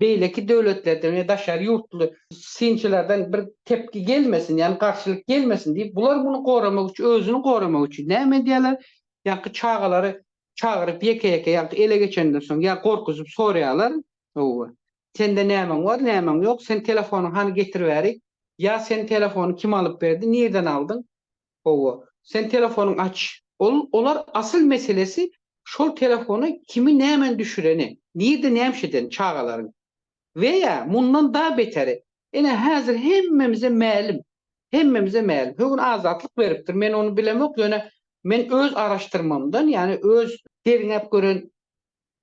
Speaker 5: beýleki döwletlerden we daşary ýurtly synçylardan bir tepgi gelmesin ýagny garşylyk gelmesin diýip bular muny goramak üçin özüni goramak üçin näme edýärler ýaňky çagalary çagyryp ýeke-ýeke ýa ele geçenden soň ýa gorkuzyp soraýarlar, Howwa. Sende nämäň bar, nämäň ýok, sen telefonyňy hany getiribärik, ýa sen telefony kim alyp berdi, nirden aldyň, howwa, sen telefonyň aç. Ol olar asyl meselesi şol telefona kimi nämen düşüreni, nirde näme edeni çagalaryň. We ýa mundan da beteri. Ine häzir hemmemize mälim. Hemmemize mälim. Högün azatlyk beripdir. Men ony bilemok ýöne men öz araşdyrmamdan ýani öz. Derňäp gören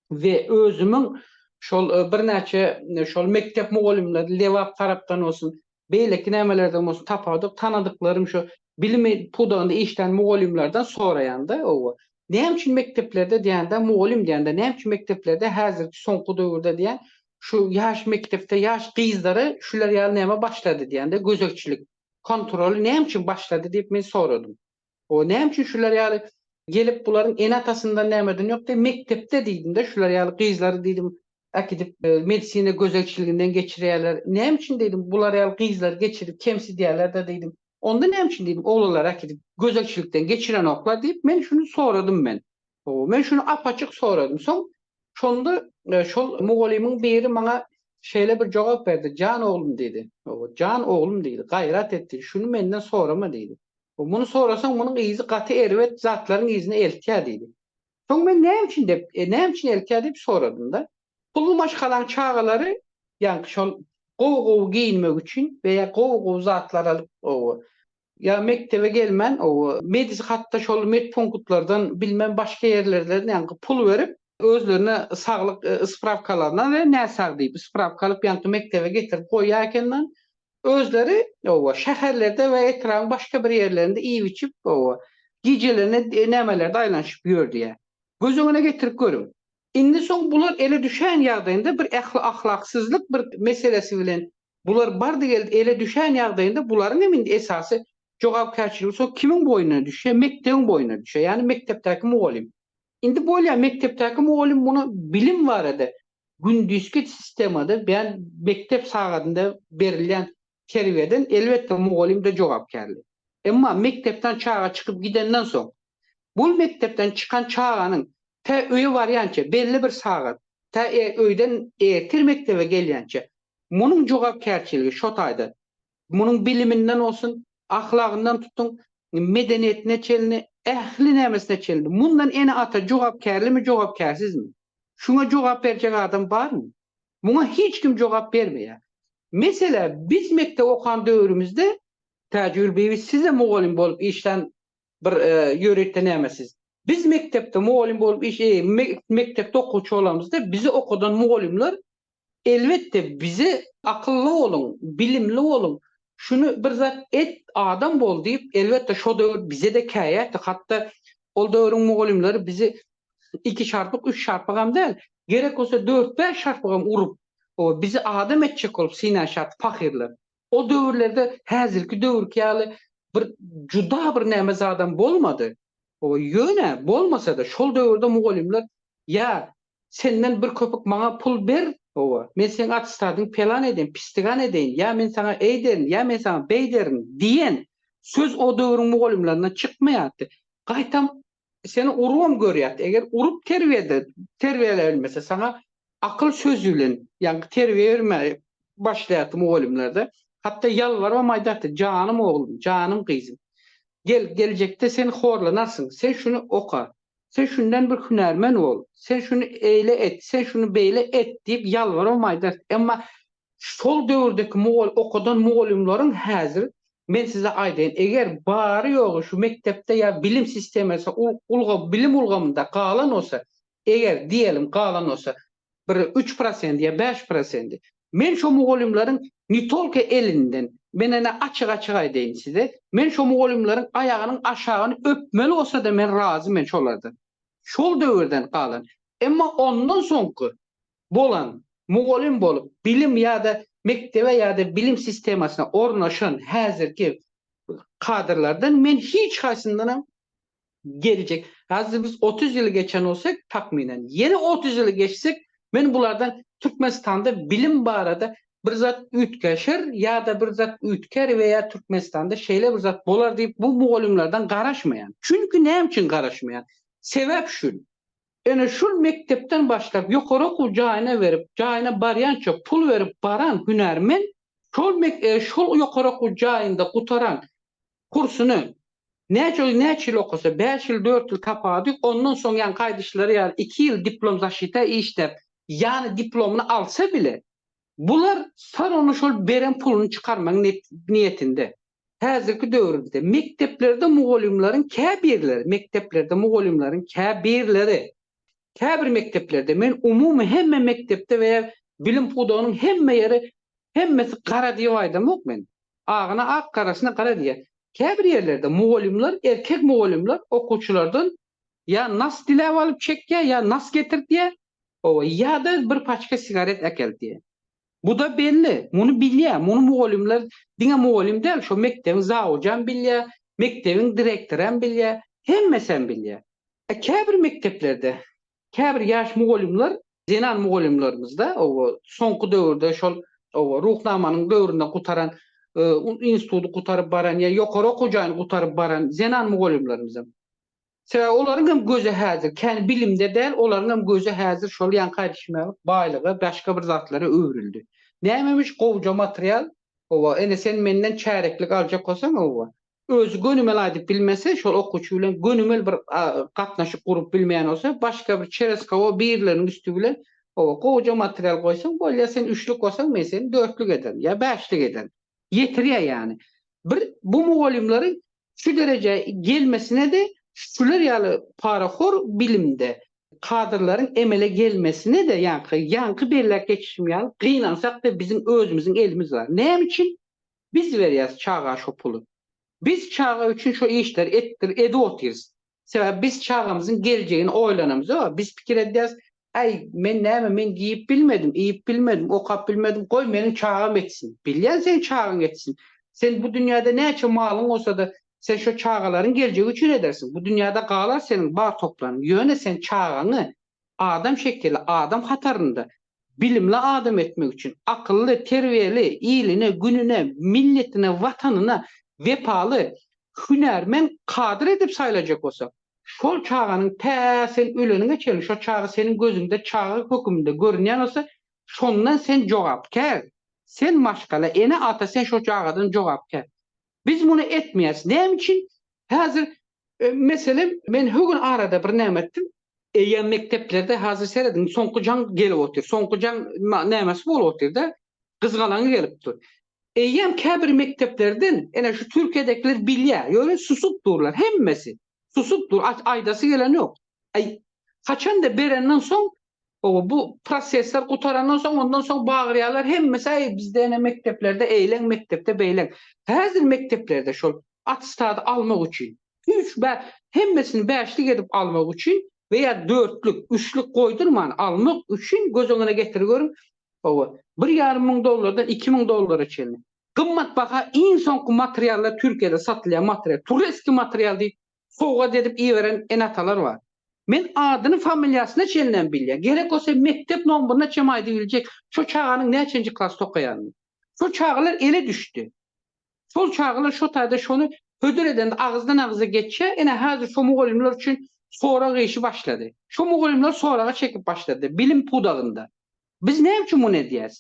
Speaker 5: we özümiň şol birnäçe şol mekdep mugallymlary Lebap tarapdan bolsun beýleki nämelerden bolsun tapawudyk tanadyklarym şu bilim pudagynda işlän mugallymlardan soraýanda owo näme üçin mekdeplerde diýende mugallym diýende näme üçin mekdeplerde häzirki soňky döwürde diýen şu ýaş mekdepde ýaş gyzlara şular ýaly näme başlady diýende gözegçilik kontroly näme üçin başlady diýip men soradym. O näme üçin şular ýaly gelip bularyň ene atasyndan nämeden ýok diýip mekdepde diýdimde şular ýaly gyzlary diýdim äkidip medisina gözelçiliginden geçirýärler näme üçin diýdim bular ýaly gyzlary geçirip kemsidýärlerde diýdim onda näme üçin diýdim oglanlary äkidip gözelçilikden geçirenoklar diýip men şuny soradym men o men şuny apaçyk soradym soň şonda şol mugallymyň biri maňa şeýle bir jogap berdi jan oglum diýdi jan oglum diýdi gaýrat et diýdi şuny menden sorama diýdi Muny sorasaň, munuň yzy gaty erbet zatlaryň yzyna eltýär diýdi. Soň men näme üçin dep, näme üçin eltýär diýip soradym-da. Pully maşgalaň çagalary, ýaňky şol gowy-gowy geýinmek üçin we ýa gowy-gowy zatlar alyp, owo, ýa mekdebe gelmän, owo, medis hatda şol medpunktlardan, bilmän başga ýerlerden ýaňky pul berip, özlerine saglyk sprawkalaryna we näsag diýip sprawka alyp ýaňky mekdebe getirip goýýar eken-de, Özleri, oba, şäherlerde we etrabyň başga bir ýerlerinde iýip-içip, oba, gijelerine nämelerde aýlanyşyp ýör diýýär. Göz öňüne getirip görüň. Indi soň bular ele düşän ýagdaýynda bir ähli ahlaksyzlyk bir meselesi bilen bular bardy-geldi ele düşän ýagdaýynda bularyň hem indi esasy jogapkärçiligi soň kimiň boýnuna düşýär? Mekdebiň boýnuna düşýär. Ýagny mekdepdäki mugallym. Indi bolýa mekdepdäki mugallym muny bilim barada gündizki sistemada beýan mekdep sagadynda berilýän terbiýeden elbetde mugallymda jogapkärli. Emma mekdepden çaga çykyp gidenden soň bul mekdepden çykan çaganyň tä öýe barýança belli bir sagat tä öýden ertir mekdebe gelýänçe munuň jogapkärçiligi şo taýda Munuň biliminden bolsun, ahlagyndan tutuň, medeniýetine çenli, ähli nämesine çenli. Mundan ene-ata jogapkärlimi, jogapkärsizmi? Şuňa jogap berjek adam barmy? Muňa hiç kim jogap bermeýär. Meselä, biz mekdep okan döwrümizde, Täjigül bibi, siz-de mugallym bolup işlän bir ýörite nämesiz. Biz mekdepde mugallym bolup iş, mekdepde okuwçy bolanymyzda, bizi okadan mugallymlar Elbetde bize akylly boluň, bilimli boluň, şuny bir zat et, adam bol diýip, elbetde şo döwür bize-de käýäpdi, hatda ol döwrüň mugallymlary bizi iki şarpyk, üç şarpyk hem däl, gerek bolsa dört-bäş şarpyk hem urup, bizi adam etjek bolup synanyşýardy pahyrlar. O döwürlerde häzirki döwürki ýaly bir juda bir näme zadam bolmady. Ýöne, bolmasa-da, şol döwürde mugallymlar ýa Senden bir köpük maňa pul ber, hawa, men seň attestadyňy pelan edeýin, pistigan edeýin, ýa men saňa eýderin, ýa men saňa beýderin diýen söz o döwrüň mugallymlaryndan çykmaýardy. Gaýtam, seni urubam görýärdi. Eger urup terbiýede terbiýeläp bilmese, saňa akyl sözi bilen, ýaňky terbiýe bermäge başlaýardy mugallymlar-da. Hatda ýalbarybam aýdardy, Janym oglum, janym gyzym, gel, geljekde sen horlanarsyň, sen şuny oka, Sen şundan bir hünärmen bol, sen şuny eýle et, sen şuny beýle et diýip ýalbaram aýdarys. Emma şol döwürdäki mugall okadan mugallymlaryň häzir men size aýdaýyn, eger bary ýogy şu mekdepde ýa bilim sistemasy ul ulga bilim ulgamynda galan bolsa, eger diýelim galan bolsa, bir üç prosent ýa bäş prosenti. Men şo mugallymlaryň ne tolko elinden, men ene açyk-açyk aýdaýyn size, men şo mugallymlaryň aýagynyň aşagyny öpmeli bolsa-da men razy men şolardan. Şol döwürden galan. Emma ondan soňky bolan, mugallym bolup, bilim ýa-da mekdebe ýa-da bilim sistemasyna ornaşan häzirki kadrlardan men hiç haýsyndanam geljek, häzir biz otuz ýyly geçen bolsak, takmynan, ýene otuz ýyly geçsek, men bulardan Türkmenistanda bilim barada bir zat üýtgeşer ýa-da bir zat üýtgär we ýa Türkmenistanda şeýle bir zat bolar diýip bu mugallymlardan garaşmaýan. Çünki näme üçin garaşmaýan? Sebäp şul, ene şul mekdepden başlap ýokary okuw jaýyna berip, jaýyna barýança pul berip baran hünärmen şol mek şol ýokary okuw jaýynda gutaran kursuny näçe ýyl, näçe ýyl okasa, bäş ýyl, dört ýyl tapady, ondan soň ýaňy gaýdyşlary ýaly iki ýyl diplom zaşita işläp, ýany diplomyny alsa bile, bular sar ony şol beren puluny çykarmagyň niýetinde. Häzirki döwrümizde mekdeplerde mugallymlaryň käbirleri, mekdeplerde mugallymlaryň käbirleri Käbir mekdeplerde, men umumy hemme mekdepde we bilim pudagynyň hemme ýeri hemmesi gara diýip aýdamok men. Agyna ak, garasyna gara diýýär. Käbir ýerlerde mugallymlar, erkek mugallymlar okuwçylardan ýa nas diläp alyp çekýär, ýa nas getir diýýär, hawa, ýa-da bir paçka sigaret äkelt diýýär. Bu-da belli, muny bilýär, muny mugallymlar, diňe mugallym däl, şo mekdebiň zawujam bilýär, mekdebiň direktoram bilýär, hemmesem bilýär. E, käbir mekdeplerde, käbir ýaş mugallymlar, zenan mugallymlarymyzda, oba, soňky döwürde şol, oba, Ruhnamanyň döwründe gutaran, e, instituty gutaryp baran ýa ýokary okuw jaýyny gutaryp baran zenan mugallymlarymyzam, Sebäbi olaryň hem gözi häzir, kän bilimde däl, olaryň hem gözi häzir şol ýaňka düşmälik baýlyga, başga bir zatlara öwrüldi. Nämemiş gowja material, howa, ene sen menden çäreklik aljak bolsaň, howa, özi gönümel aýdyp bilmese, şol okuwçy bilen gönümel bir gatnaşyk gurup bilmeýän bolsa, başga bir çerez howa birleriniň üsti bilen, howa, gowja material goýsaň, bolýar, sen üçlük bolsaň, men seni dörtlük ederin ýa bäşlik ederin. ýetirýär ýany. Bir bu mugallymlary şu derejä gelmesine-de şular ýaly parahor bilimde kadrlaryň emele gelmesine-de ýaňky ýaňky belläp geçişim ýaly gynansak-da biziň özümiziň elimiz bar. Näme üçin biz berýäs çaga şo puly? Biz çaga üçin şo işleri etdir edip otyrys. Sebäbi biz çagamyzyň geljegini oýlanamyz-a, biz pikir edýäris, Äý, men näme, men geýip bilmedim, iýip bilmedim, okap bilmedim, goý, meniň çagam etsin. Bilýän seň çagaň etsin. Sen bu dünýäde näçe malyň bolsa-da, sen şo çagalaryň geljegi üçin edersiň. Bu dünýäde galar seniň bar toplanyň, ýöne sen çagaňy adam şekili adam hatarynda bilimli adam etmek üçin, akylly, terbiýeli, iline, gününe, milletine, watanyna wepaly hünärmen kadr edip saýlajak bolsak, şol çaganyň tä sen öleniňe çenli şo çaga seniň gözüňde çaga höküminde görünýän bolsa, şondan sen jogapkär. Sen maşgala, ene, ata, sen şo çagadan jogapkär. Biz muny etmeýäris. Näme üçin? Häzir Meselem, men hü gün arada bir näme etdim, eýýäm mekdeplerde hazir serediň soňky jaň gelip otyr, soňky jaň nämesi bolup otyrda, gyzgalaňy gelip dur. Eýýäm käbir mekdeplerden, ene şu Türkiýedekiler bilýär, ýöne susup durlar, hemmesi susup dur, aýdasy gelen ýok. Aý, haçanda berenden soň Hawa, bu prosesler gutarandan soň, ondan soň bagyrýarlar, hemmesi, Äý, bizde ene mekdeplerde eýleň, mekdepde beýleň. Häzir mekdeplerde şol attestady almak üçin, üç bä, hemmesini bäşlik edip almak üçin we ýa dörtlük, üçlük goýdurman almak üçin göz öňüne getir görüň, hawa, bir ýarym müň dollardan iki müň dollara çenli gymmatbaha iň soňky materiallar Türkiýede satylýan material, tureski material diýip sowgat edip iberen ene-atalar bar. Men adyny-familiýasyna çenlem bilýän, gerek bolsa mekdep nomberyna çem aýdyp biljek şo çaganyň näçenji klasda okaýanyny. Şo çagalar ele düşdi. Şol çagalar şo taýda şony hödür edende agyzdan-agyza geçýär, ine, häzir şo mugallymlar üçin sorag işi başlady. Şo mugallymlar soraga çekip başlady, bilim pudagynda. Biz näme üçin muny edýäs?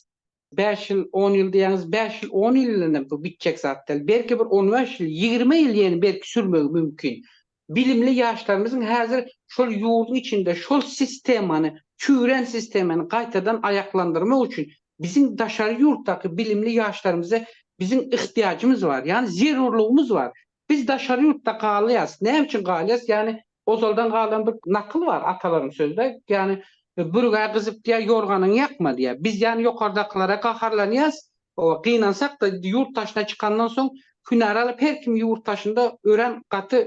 Speaker 5: Bäş ýyl, on ýyl diýýäňiz, bäş ýyl, on ýyl bilenem bu bitjek zat däl. Belki bir on bäş ýyl, ýigrimi ýyl ýene belki sürmegi mümkin. Bilimli ýaşlarymyzyň häzir şol ýurduň içinde şol sistemany, çüwren sistemany gaýtadan aýaklandyrmak üçin biziň daşary ýurtdaky bilimli ýaşlarymyza biziň yhtyýajymyz bar. Ýagny zerurlygymyz bar. Biz daşary ýurtda galýas. Näme üçin galýas? Ýagny Ozaldan galan bir nakyl bar, atalaryň sözde, ýagny, Bürgä gyzyp diýýär, ýorganyňy ýakma diýýär. Biz ýan ýokardakylara gaharlanýas, oba, gynansak-da, ýurt daşyna çykandan soň, hünär alyp, her kim ýurt daşynda örän gaty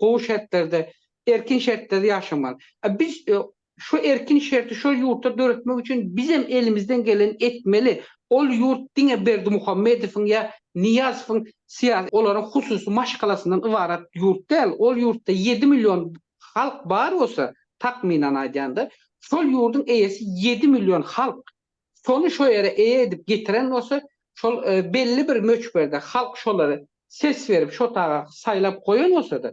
Speaker 5: gowy şertlerde, erkin şertlerde ýaşamaly. A biz Şu erkin şerti şol ýurtda döretmek üçin bizem elimizden geleni etmeli. Ol ýurt diňe Berdimuhamedowyň ýa Nyýazowyň syýasy, olaryň hususy maşgalasyndan ybarat ýurt däl. Ol ýurtda ýedi million halk bar bolsa, takmynan aýdanda, şol ýurduň eýesi ýedi million halk. Şony şo ýere eýe edip getiren bolsa, şol belli bir möçberde halk şolary ses berip şo taga saýlap goýan bolsada,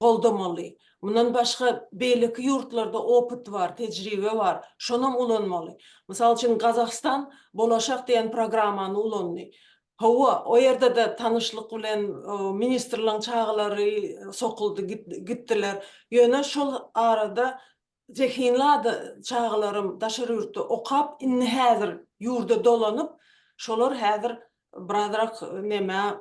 Speaker 1: goldamaly. Mundan başga beýleki ýurtlarda opyt bar, tejribe bar, şonam ulanmaly. Mysal üçin Gazahstan Bolaşak diýen programmany ulandy. Hawa, o ýerde-de tanyşlyk bilen ministrligiň çagalary sokuldy, gitdiler. Ýöne şol arada zehinli ada çagalaram daşary ýurtda okap, indi häzir ýurda dolanyp, şolar häzir birazrak nämä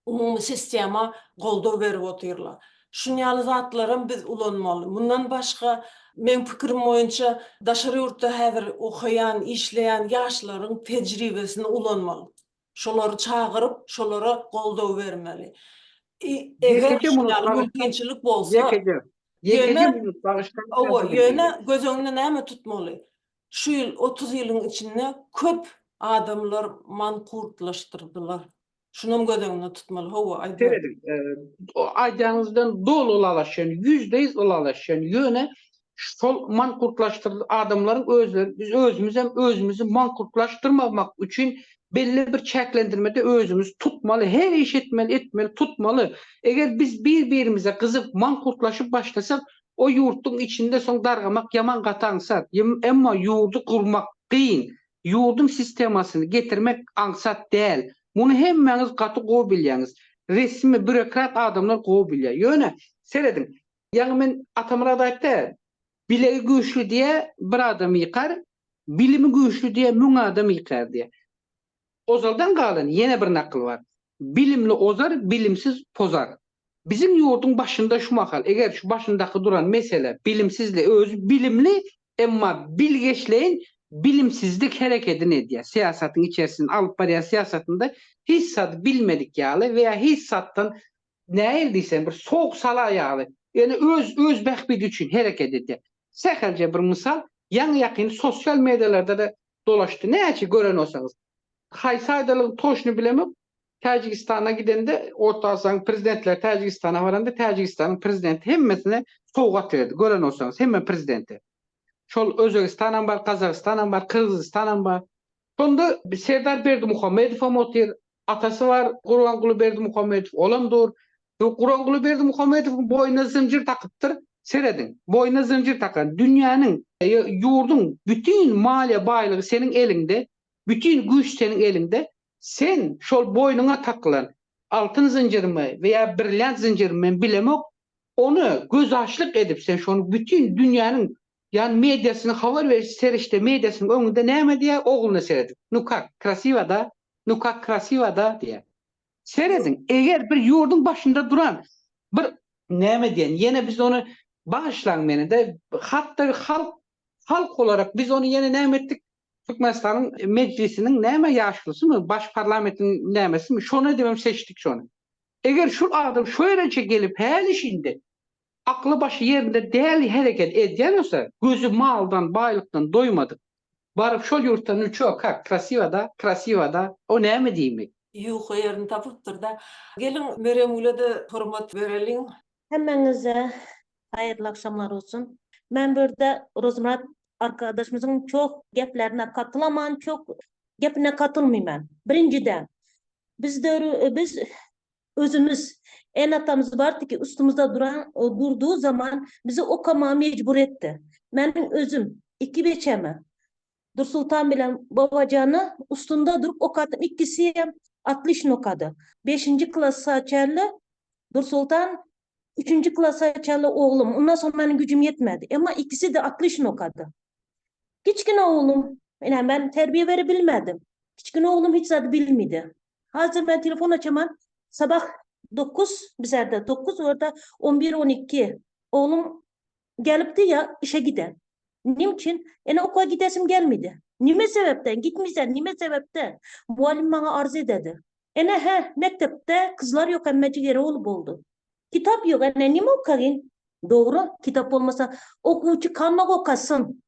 Speaker 1: umumy sistema goldaw berip otyrlar. Şun ýaly zatlaram biz ulanmaly. Mundan başga, meň pikirim boýunça, daşary ýurtda häzir okaýan, işleýän ýaşlaryň tejribesini ulanmaly. Şolary çagyryp, şolara goldaw bermeli. Eger şun ýaly mümkinçilik bolsa, ýöne, hawa, ýöne göz öňünde näme tutmaly? Şu ýyl otuz ýylyň içinde köp adamlar mankurtlaşdyrdylar. Şunam göz öňünde tutmaly, hawa, aýdar. Serediň,
Speaker 5: aýdanyňyzdan doly ylalaşýan, ýüzde ýüz ylalaşýan, ýöne şol mankurtlaşdyrylan adamlaryň özleri, biz özümizem özümizi mankurtlaşdyrmamak üçin belli bir çäklendirmede özümizi tutmaly, her iş etmeli, etmeli, tutmaly. Eger biz bir birimize gyzyp, mankurtlaşyp başlasak, o ýurtduň içinde soň dargamak ýaman gaty aňsat. Emma ýurdy gurmak kyn, Ýurduň sistemasyny getirmek aňsat däl. Muny hemmäňiz gaty gowy bilýäňiz. Resmi, býurokrat adamlar gowy bilýär. Ýöne, serediň, ýaňy men Atamyrat aýtdy, Bilegi güýçli diýe bir adam ýykar, bilimi güýçli diýe müň adam ýykar diýe. Ozaldan galan ýene bir nakyl bar, Bilimli ozar, bilimsiz pozar. Biziň ýurduň başynda şu mahal, eger şu başyndaky duran mesele bilimsizli, özi bilimli Emma bilgeşleýin bilimsizlik herekedini edýär, syýasatyň içerisinde alyp barýan syýasatynda hiç zady bilmedik ýaly we ýa hiç zatdan nähili diýseň bir sowuk salar ýaly, ýöne öz öz bähbidi üçin hereket edýär. Sähelçe bir mysal, ýaňy ýakyn sosial medialarda-da dolaşdy, näçe gören bolsaňyz. Haýsy aýdalygyň toşny bilemok, Täjigistana gidende Orta Aziýanyň prezidentleri Täjigistana baranda Täjigistanyň prezidenti hemmesine sowgat berdi. Gören bolsaňyz hemme prezidente. Şol Özbegistanam bar, Gazagystanam bar, Kyrgyzystanam bar. Şonda Serdar Berdimuhamedowam otyr. Atasy bar Gurbanguly Berdimuhamedow, olam dur. Gurbanguly Berdimuhamedowyň boýnuna zynjyr takypdyr. Serediň, boýnuna zynjyr takan. Dünýäniň, ýurduň bütin maliýe baýlygy seniň eliňde, bütin güýç seniň eliňde. Sen şol boýnuňa takylan altyn zynjyrmy we ýa brilliant zynjyrmy men bilemok, ony gözaçlyk edip sen şony bütin dünýäniň ýany mediasynyň habar beriş serişde mediasynyň öňünde näme diýýär ogluna seredip, nu kak, krasiwa da, nu kak krasiwa da diýýär. Serediň, eger bir ýurduň başynda duran bir näme diýen, ýene biz ony bagyşlaň meni-de, hatda halk, halk olarak biz ony ýene näme etdik, Türkmenistanyň Mejlisiniň näme ýaşlysymy, baş parlamentiň nämesimi, şony edibem seçdik şony. Eger şul adam şu ereje gelip häli-şindi akly başy ýerinde däl hereket edýän bolsa, gözi maldan, baýlykdan doýmadyk, baryp şol ýurtda nu ço, kak, krasiwa da, krasiwa da, o näme diýmek? Ýuka ýerini
Speaker 1: tapypdyr-da. Geliň, Meremgülede hormat bereliň. Hemmäňize
Speaker 6: haýyrly agşamlar olsun. Men bu ýerde Rozmyrat arkadaşymyzyň çoh geplerine katylaman, çoh gepine katylmyman. Birinjiden, biz döwür, biz özümiz ene-atamyz bardyky üstümizde duran, durdy zaman bizi okamaga mejbur etdi. Meniň özüm iki beçemi Dursultan bilen Babajana ustunda durup okatdym. Ikisi hem otlişno okady. Beşinji klasa çenli Dursultan, üçünji klasa çenli oglum. Ondan soň meniň güjüm ýetmedi. Emma ikisi-de otlişno okady. Kiçgine oglum, ine, men terbiýe berebilmedim. Kiçgine oglum hiç zady bilmidi. Hazir men telefon açaman, sabah dokuz, bizerde dokuz, orada on bir, on iki. Oglum Gelipdi ýa işe gide. Nim üçin? Ene oka gidesim gelmidi. Nime sebepden gitmisen nime sebepden? Mugallym maňa arz ededi. Ene he, mekdepde kyzlar ýok emme jigeri ol boldy. Kitap ýok ene nime okagyn? Dogry, kitap bolmasa okuwçy kalmak okasyn.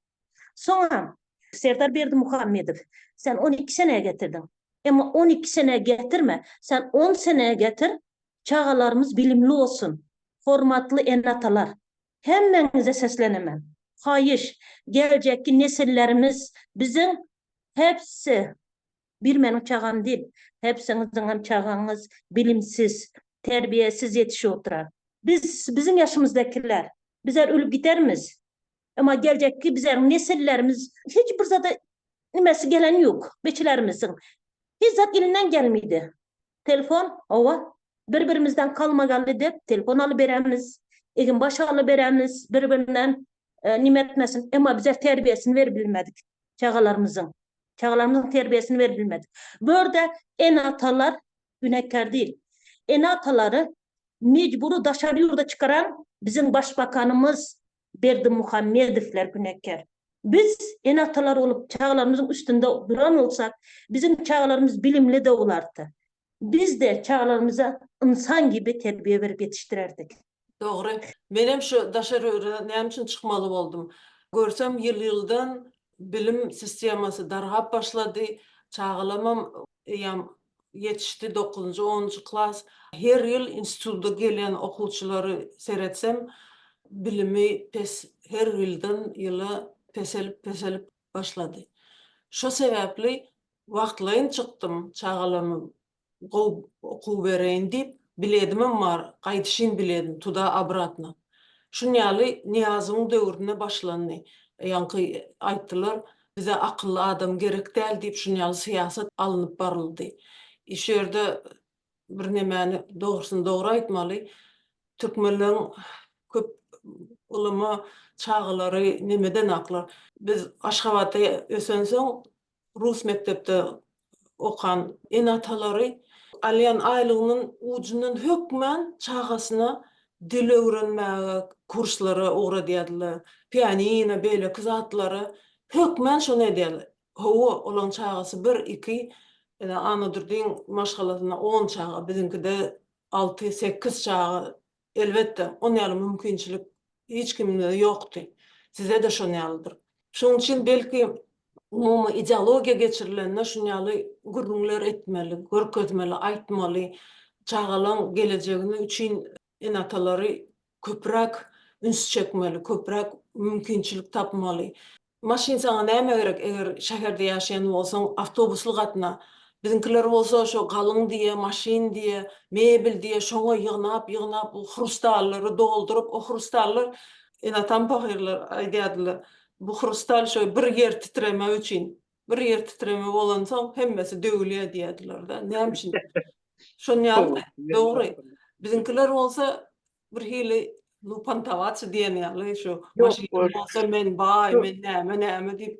Speaker 6: Soňam. Serdar Berdimuhamedow sen on iki senä getirdiň. Emma on iki senä getirme, sen on senä getir, Çagalarymyz bilimli bolsun. Hormatly ene-atalar, hemmäňize seslenemen. Haýyş, geljekki nesillerimiz biziň hepsi, bir meniň çagam dil, hepsiňiziňem çagaňyz bilimsiz, terbiýesiz ýetişip oturar. Biz, biziň ýaşymyzdakiler, bizler ölüp gidermiz. Emma geljekki bizleriň nesillerimiz hiç bir zada nimesi gelen ýok. Beçilerimiziň hiç zat elinden gelmedi. Telefon, hawa. Bir-birimizden kalmagally dek telefon alyberämiz. Eginbaş alyberämiz bir-birinden. Nime etmesin, emma bize terbiýesini beribilmedik çagalarymyzyň. Çagalarymyzyň terbiýesini beribilmedik. Bu ýerde ene-atalar günäkär diýil. Ene-atalary mejbury daşary ýurda çykaran biziň başbakanymyz, Berdimuhamedowlar günäkär. Biz ene-atalar bolup çagalarymyzyň üstünde duran bolsak, biziň çagalarymyz bilimli doglardy. Biz-de çagalarymyza ynsan gibi terbiýe berip ýetişdirerdik. Dogry.
Speaker 1: Menem şu daşaröre näme üçin çykmaly boldum. Görsem ýyl-ýyldan bilim sistemasy dargap başlady. Çagalamam eýýäm ýetişdi, dokuzynjy, onunjy klas. Her ýyl institutda gelen okuwçylary seretsem, bilimi pes, her ýyldan ýyla peselip, peselip başlady. Şo sebäpli wagtlaýyn çykdym, çagalarmy gowy okuw bereýin diýip, biledimem bar, gaýdyşyn biledim, tuda obratno. Şun ýaly Nyýazowyň döwründe başlandy. Ýaňky aýtdylar, Bize akylly adam gerek däl diýip şun ýaly syýasat alnyp baryldy. Şu ýerde bir nemäni dogrusyny dogry aýtmaly. Türkmenleriň köp ulama çagalary nemedenaklar. Biz Aşgabatda ösensoň rus mekdepde okan ene-atalary alýan aýlygynyň ujundan hökmän çagasyna dil öwrenmäge kurslara ugradýardylar. Pianino, beýleki zatlary hökmän şony edýärler. Hawa, olaryň çagasy bir-iki, ine, Annadurdyň maşgalasyna on çaga, biziňkide alty-sekiz çaga Elbetde, on ýaly mümkinçilik hiç kimde ýokdy. Size-de şon ýalydyr. Şoň üçin belki umumy ideologiýa geçirilende şun ýaly gürrüňler etmeli, görkezmeli, aýtmaly. Çagalaň gelejegini üçin ene-atalary köpräk üns çekmeli, köpräk mümkinçilik tapmaly. Maşyn saňa näme gerek, eger şäherde ýaşaýan bolsaň, awtobusly gatna. Biziňkiler bolsa şo galyň diýe, maşyn diýe, mebel diýe, şoňa ýygnap-ýygnap bu hrustallary dolduryp, o hrustallar, ene-atam pahyrlar aýdýardylar, bu hrustal şo bir ýer titreme üçin, bir ýer titreme bolansoň hemmesi döwülýär diýýärdiler-de. Näme üçin? Şonuň ýaly-da, dogry. Biziňkiler bolsa Bir hili lupantawaçy diýen ýaly şu maşynym bolsa men baý, men näme näme diýip.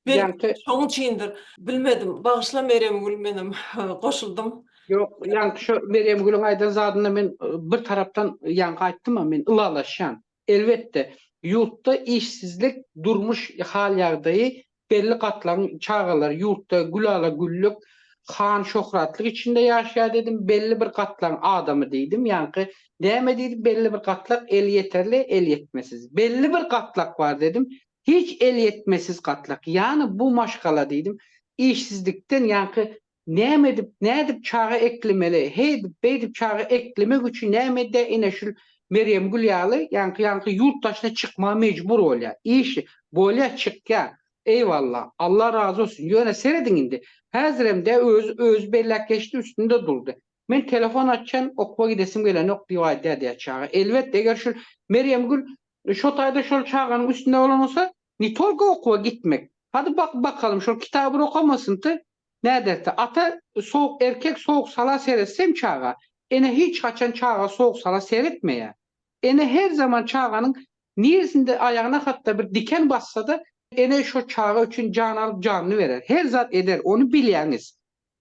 Speaker 1: Belki şoň
Speaker 5: üçindir.
Speaker 1: Bilmedim. Bagyşla Merýemgül menem goşuldym. Ýok, ýaňky
Speaker 5: şu Merýemgülüň aýdan zadyna men bir tarapdan ýaňky aýtdym-a men ylalaşýan. Elbetde, ýurtda işsizlik, durmuş hal-ýagdaýy Belli gatlagyň çagalary ýurtda gülala-güllük, şan-şöhratlyk içinde ýaşýar diýdim, belli bir gatlagyň adamy diýdim, ýaňky näme diýdi, belli bir gatlak elýeterli, elýetmesiz. Belli bir gatlak bar diýdim, hiç elýetmesiz gatlak. Ýagny bu maşgala diýdim, işsizlikden, ýaňky Näme edip, nädip çaga eklemeli, heýdip, beýdip çaga eklemek üçin näme edýär, ine şul Merýemgül ýaly, ýaňky ýaňky ýurt daşyna çykmaga mejbur bolýar. Işi, bolýar çykýar. Eýwalla, Alla razy bolsun. Ýöne serediň indi, häzirem dä özi, özi belläp geçdi, üstünde durdy. Men telefon açan, okuwa gidesim gelenok diýip aýdýar diýýär çaga. Elbet, eger şul Merýemgül şo taýda şol çaganyň üstünde bolan bolsa, ne tolko okuwa gitmek. Hady bakyp bakalym, şol kitabyr okamasynty, Näderse, ata sowuk erkek sowuk sala seretseň çaga, ene hiç haçan çaga sowuk sala seretmeýär. Ene her zaman çaganyň niresinde aýagyna hatda bir diken bassada ene şo çaga üçin jan alyp janyny berer, her zat eder, ony bilýäňiz.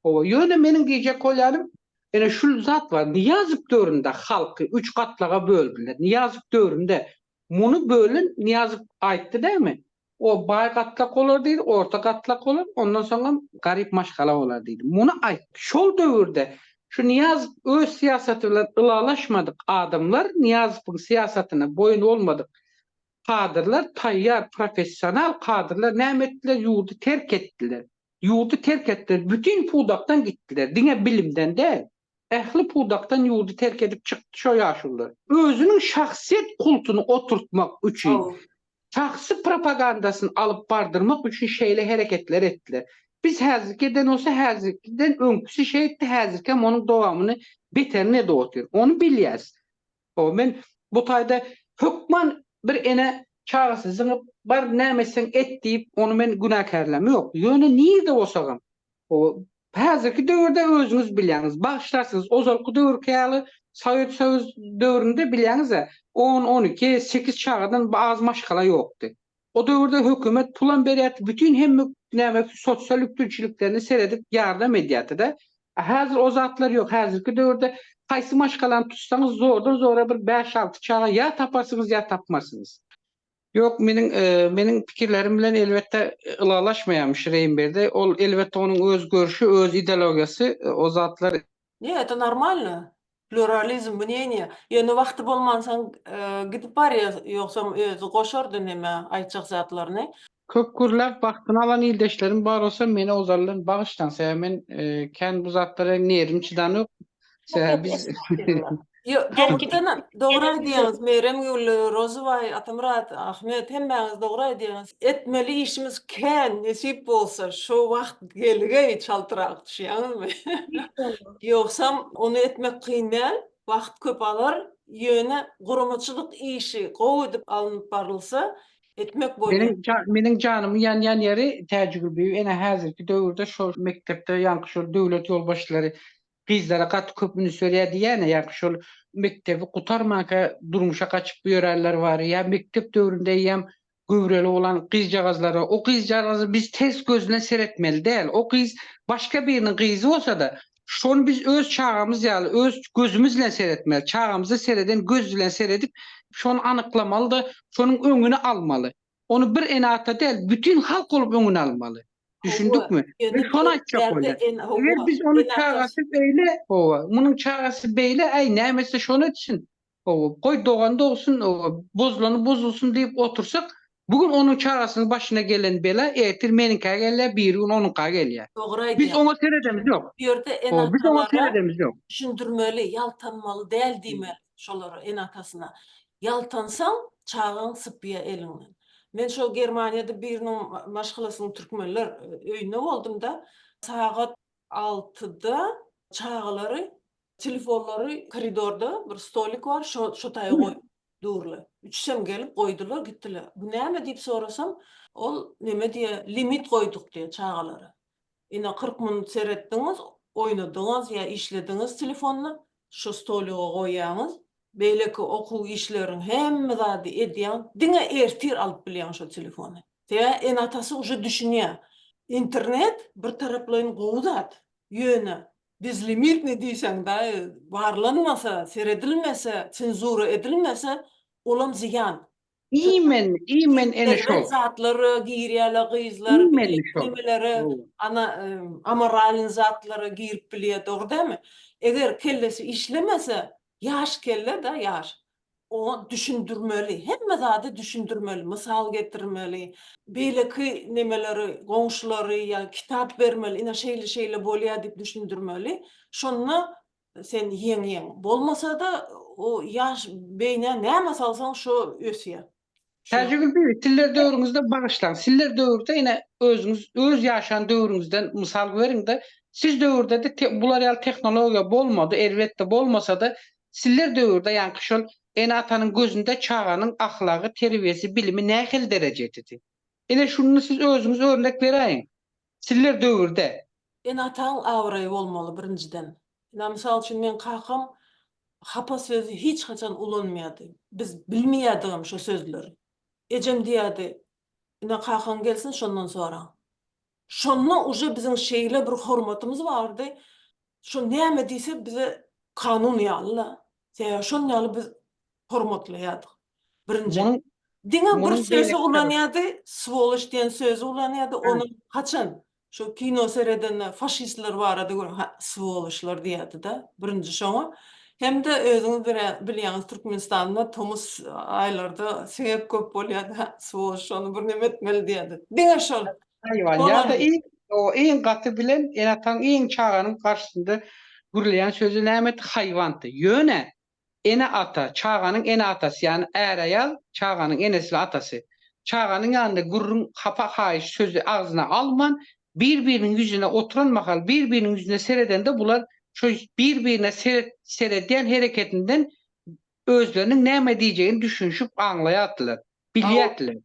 Speaker 5: Howa, ýöne meniň diýjek bolýanym ene şul zat bar, Nyýazow döwründe halky üç gatlaga böldüler, Nyýazow döwründe muny bölen Nyýazow aýtdy dämi, O baý gatlak bolar diýdi, orta gatlak bolar, ondan soňam garyp maşgala bolar diýdi. Muny aýt. Şol döwürde şu Nyýazow öz syýasaty bilen ylalaşmadyk adamlar, Nyýazowyň syýasatyna boýun bolmadyk kadrlar, taýýar professional kadrlar näme etdiler, ýurdy terk etdiler. Ýurdy terk etdiler, bütin pudakdan gitdiler, diňe bilimden däl. Ähli pudakdan ýurdy terk edip çykdy şo ýaşulular. Özüniň şahsyýet kultuny oturtmak üçin, şahsy propagandasyny alyp bardyrmak üçin şeýle hereketler etdiler. Biz häzirki eden bolsa häzirkiden öňküsi şeýtdi häzirkem onuň dowamyny beterini edip otyr. Ony bilýäs. Ho, men bu taýda hökman bir ene çagasy zyňyp, bar, näme etseň et diýip, ony men günäkärläm. Ýok, ýöne nirede bolsagam, ho, häzirki döwürde özüňiz bilýäňiz, bagyşlarsyňyz, ozalky döwürki ýaly Sowet Soýuz döwründe bilýäňiz-ä, on, on iki, sekiz çagadan az maşgala ýokdy. O döwürde hökümet pulam berýärdi bütin hemme näme sosial üpjünçiliklerine seredip ýardam edýärdi-de. A häzir o zatlar ýok. Häzirki döwürde haýsy maşgalany tutsaňyz zordan zora bir bäş alty çaga ýa taparsyňyz ýa tapmarsyňyz. Ýok meniň meniň pikirlerim bilen elbetde ylalaşmaýamyş Reýnberdi. Ol elbetde onuň öz görşi öz idelogiýasy o zatlar. Nje eta
Speaker 1: normalno. Pluralizm mneniýa. Ýöne wagty bolmansoň gidip barýar, ýogsam özi goşardy neme aýtjak zatlaryny. Köp gürläp
Speaker 5: wagtyny alan ildeşlerim bar bolsa meni ozaldan bagyşlaň sebäbi men kän bu zatlara nerwim çydanok sebäbi biz
Speaker 1: Dogry aýdýaňyz Meremgül, Rozybaý, Atamyrat, Ahmet hemmäňiz dogry aýdýaňyz. Etmeli işimiz kän nesip bolsa şo wagt gelgeý çaltrak düşýäňizmi. Ýogsam, ony etmek kyn däl, wagt köp alar, ýöne guramaçylyk işi gowy edip alnyp barylsa, etmek bolýar. Meniň janymy
Speaker 5: ýanýan ýeri, Täjigül bibi, ene, häzirki döwürde şol mekdepde ýaňky şol döwlet ýolbaşçylary gyzlara gaty köp üns berýär diýýär-ä, ýaňky şol mekdebi gutarmanka durmuşa gaçyp ýörenler bar, ýa mekdep döwründe eýýäm Göwreli bolan gyzjagazlara o gyzjagazy biz ters gözüne seretmeli däl. O gyz başga biriniň gyzy bolsa-da, şony biz öz çagamyz ýaly, öz gözümiz bilen seretmeli. Çagamyza sereden göz bilen seredip, şony anyklamaly-da, şonuň öňüni almaly. Ony bir ene-ata däl, bütin halk bolup öňüni almaly. Düşündikmi? Men şony aýtjak
Speaker 1: bolýan.
Speaker 5: Eger biz ony çagasy beýle, hawa, munuň çagasy beýle, äý, näme etse şony etsin. Hawa, goý dogan dogsun, bozulany bozulsun diýip otursak, bu gün onuň çagasynyň başyna gelen bela ertir meniňkä gelýär, birigün onuňka gelýär. Dogry aýdýaň. Biz oňa seredemiz ýok. Bu ýerde ene-atalara düşündirmeli,
Speaker 1: ýaltanmaly däl diýmeli şolara, ene-atasyna. Ýaltansaň, çagaň sypýar eliňden. Men şol Germaniýada biriniň maşgalasynyň türkmenler öýünde boldum-da, sagat altyda çagalary Telefonlary koridorda bir stolik bar, şo şo taýa goýup durlar. Üçüsem gelip goýdular, gitdiler. Bu näme diýip sorasam, ol neme diýýär, limit goýduk diýýär çagalara. Ine, kyrk minut seretdiňiz, oýnadyňyz ýa işlediňiz telefonda, şo stoliga goýýaňyz. Beýleki okuw işleriň hemme zady edýäň, diňe ertir alyp bilýäň şo telefony. Sebäbi ene-atasy uje düşünýär. Internet bir taraplaýyn gowy zat, ýöne Bezlimitni diýseň daýy, barlanmasa, seredilmese, senzura edilmese, olam zyýan. Imen,
Speaker 5: imen ene şol. Zatlara girýäler
Speaker 1: gyzlar, nemelere,
Speaker 5: ana
Speaker 1: amoralny zatlara girip bilýär dogry dämi? Eger kellesi işlemese, ýaş kelle da ýaş. Oňa düşündirmeli, hemme zady düşündirmeli, mysal getirmeli, beýleki nemeleri, goňşulary ýa kitap bermeli, ine şeýle-şeýle bolýar diýip düşündirmeli. Şonda sen ýeňýäň. Bolmasa-da o ýaş beýnä näme salsaň şo ösýär. Täjigül bibi,
Speaker 5: sizler döwrüňizde bagyşlaň, sizler döwürde ine özüňiz öz ýaşan döwrüňizden mysal beriňde, siz döwürde-de te bular ýaly tehnologiýa bolmady, elbetde bolmasa-da, sizler döwürde ýaňky şol ene-atanyň gözünde çaganyň ahlagy, terbiýesi, bilimi nähili derejededi? Ine şunda siz özüňiz örnek beräýiň. Çiller döwürde. Ene-ataň
Speaker 1: abraýy bolmaly birinjiden. Ina mysal üçin meň kakam hapa sözi hiç haçan ulanmaýardy. Biz bilmeýärdigem şo sözleri. Ejem diýerdi, Ina kakaň gelsin şondan soraň. Şonda uje biziň şeýle bir hormatymyz bardy. Şo näme diýse bize kanun ýaly-la. Sebäbi şon ýaly biz hormatlaýardyk. Birinji. Diňe bir sözi ulanýardy, swoloş diýen sözi ulanýardy, ony haçan şu kino seredende faşistler barada gör, ha, swoloşlar diýerdi-de, birinji şoňa. Hem-de özüňiz bilýäňiz, Türkmenistanda tomus aýlarda siňek köp bolýardy, ha, swoloş şony birneme etmeli diýerdi. Diňe şol. Haýwan ýa-da
Speaker 5: iň oba iň gaty bilen ene-ataň iň çaganyň garşysynda gürleýän sözi nämedi? Haýwandy. Ýöne ene-ata, çaganyň ene-atasy, ýagny är-aýal, çaganyň enesi we atasy, çaganyň ýanynda gürrüň, hapa-haýyş sözi agzyna alman, bir-biriniň ýüzüne oturan mahal, bir-biriniň ýüzüne seredende bular şo bir-birine seret seredýän hereketinden özleriniň näme diýjegini düşünişip aňlaýardylar, bilýärdiler.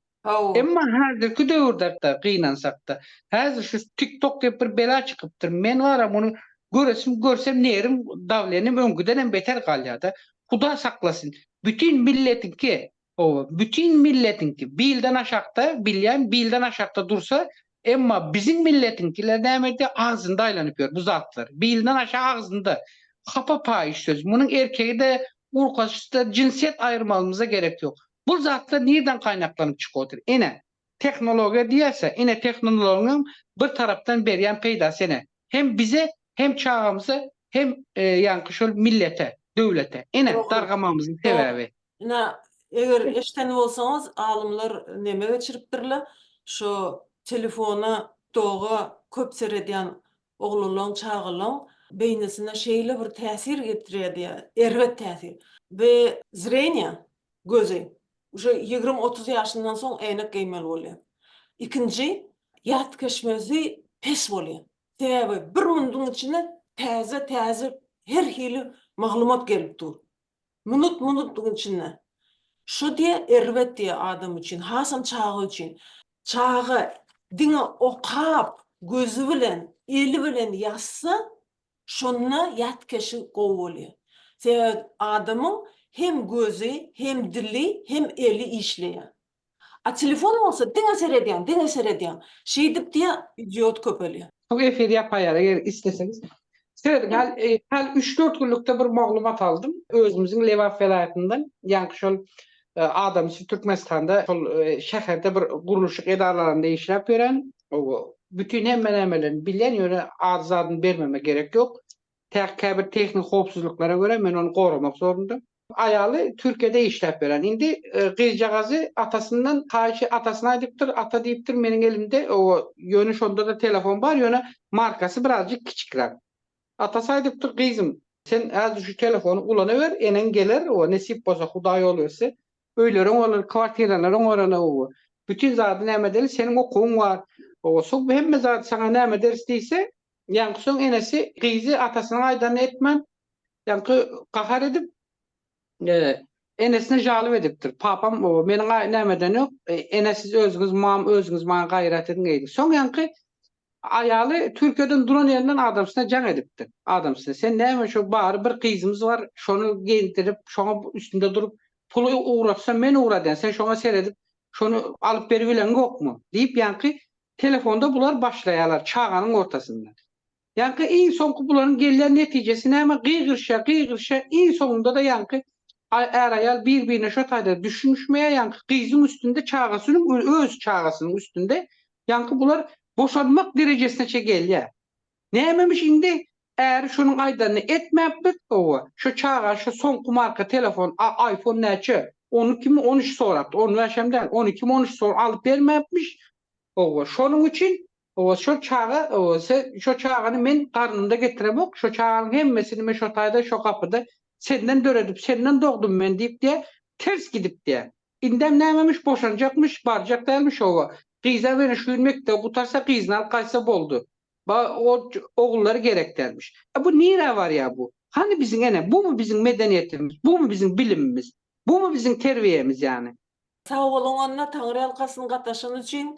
Speaker 5: Emma häzirki döwürde-da gynansak-da, häzir şu TikTok diýip bir bela çykypdyr, men wara muny göresim görsem nerim, dawlenim öňkidenem beter galýar-da. Huda saklasyn, bütin milletiňki, hawa, bütin milletiňki bilden aşakda, bilýän, bilden aşakda dursa, Emma biziň milletiňkiler näme edýär, agzynda aýlanyp ýör bu zatlar. Bilden aşa agzynda. Hapa paýyş söz. Munuň erkegi-de, urkaçysy-da, jinsiýet aýyrmagymyza gerek ýok. Bu zatlar nirden gaýnaklanyp çykyp otyr? Ine, tehnologiýa diýýäs-ä, ine tehnonlogiýaň bir tarapdan berýän peýdasy ene, hem bize, hem çagamyza, hem ýaňky şol millete, döwlete. Ine, dargamagymyzyň sebäbi. Ina, eger
Speaker 1: eşden bolsaňyz, alymlar neme geçiripdirler, şo telefona, TikToga köp seredýän oglanlaň, çagalaň beýnisine şeýle bir täsir getirýär diýýär, erbet täsir. Bi zreniýa, gözi, uje ýigrimi-otuz ýaşyndan soň äýnek geýmeli bolýar. Ikinji, ýatkeşmesi pes bolýar. Sebäbi bir munduň içine täze-täze her hili maglumat gelip dur. Minut minutlygyň içinde. Şo diýe erbet diýe adam üçin, hasam çaga üçin. Çaga diňe okap, gözi bilen, eli bilen ýazsa, şonda ýatkeşi gowy bolýar. Sebäbi adamyň hem gözi, hem dili, hem eli işleýär. A telefon bolsa diňe seredýäň, diňe seredýäň. Şeýdip diýä idiot köpelýä. Şu efir ýapaýar
Speaker 5: eger isleseňiz. Serediň hal hal üç dört günlükde bir maglumat aldym özümiziň Lebap welaýatyndan ýaňky şol adamsy Türkmenistanda şol şäherde bir gurluşyk edaralarynda işläp ýören owo bütin hemme nämelerini bilýän ýöne ady zadyny bermeme gerek ýok tä käbir tehnik howpsuzlyklara görä men ony goramak zorundam. Aýaly Türkiýede işläp ýören. Indi gyzjagazy atasyndan haýyşy atasyna aýdypdyr, ata diýipdir, meniň elimde oba ýöne şonda-da telefon bar, ýöne markasy birazjyk kiçikräk. Atasy aýdypdyr, gyzym, sen häzir şu telefony ulanaber, eneň geler, oba nesip bolsa, Hudaý ýol berse, öýleriň bolar, kwartiralaryň borana, oba bütin zady näme edeli, seniň okuwyň bar, oba so hemme zady saňa näme ederis diýse, ýaňky soň enesi gyzy atasynyň aýdanyny etmän, Ýaňky gahar edip, enesine jalyp edipdir. Papam, Meniň aý nämeden ýok, ene siz özüňiz mam, özüňiz maňa gaýrat ediň eýdi. Soň ýaňky aýaly Türkiýeden duran ýerinden adamsyna jaň edipdir. Adamsy, sen näme şo bary bir gyzymyz bar, şony geýindirip, şoňa üstünde durup, puly ugratsa men ugradýan, sen şoňa seredip, şony alyp beribileňokmy? diýip ýaňky telefonda bular başlaýarlar çaganyň ortasynda. Ýaňky iň soňky bularyň gelýän netijesi näme gygyryşýar gygyryşýar iň soňunda-da ýaňky är-aýal bir-birine şo taýda düşünişmeýär ýaňky gyzyň üstünde çagasynyň öz çagasynyň üstünde ýaňky bular boşanmak derejesine çe gelýär. Nämemiş indi äri şonuň aýdanyny etmäpdir owa şo çaga şo soňky marka telefon a aýfon näçe on ikimi on üç sorapdyr on bäşem däl on ikimi on üç sor alyp bermäpmiş owa şonuň üçin Hawa şo çaga hawa se şo çagany men garnynda getiremok şo çaganyň hemmesini me şo taýda şo gapyda senden döredip senden dogdum men diýip diýä ters gidip diýä indem nämemiş boşanjakmyş barjak dälmiş hawa gyza wene şu gün mekdebi gutarsa gyzyny alyp gaýtsa boldy ba o ogullary gerek dälmiş e bu nirä barýa bu hany biziň ene bumy biziň medeniýetimiz bumy biziň bilimimiz bumy
Speaker 1: biziň
Speaker 5: terbiýemiz ýany. Sag boluň
Speaker 1: Anna
Speaker 5: Taňryýalkasyn gataşan
Speaker 1: üçin.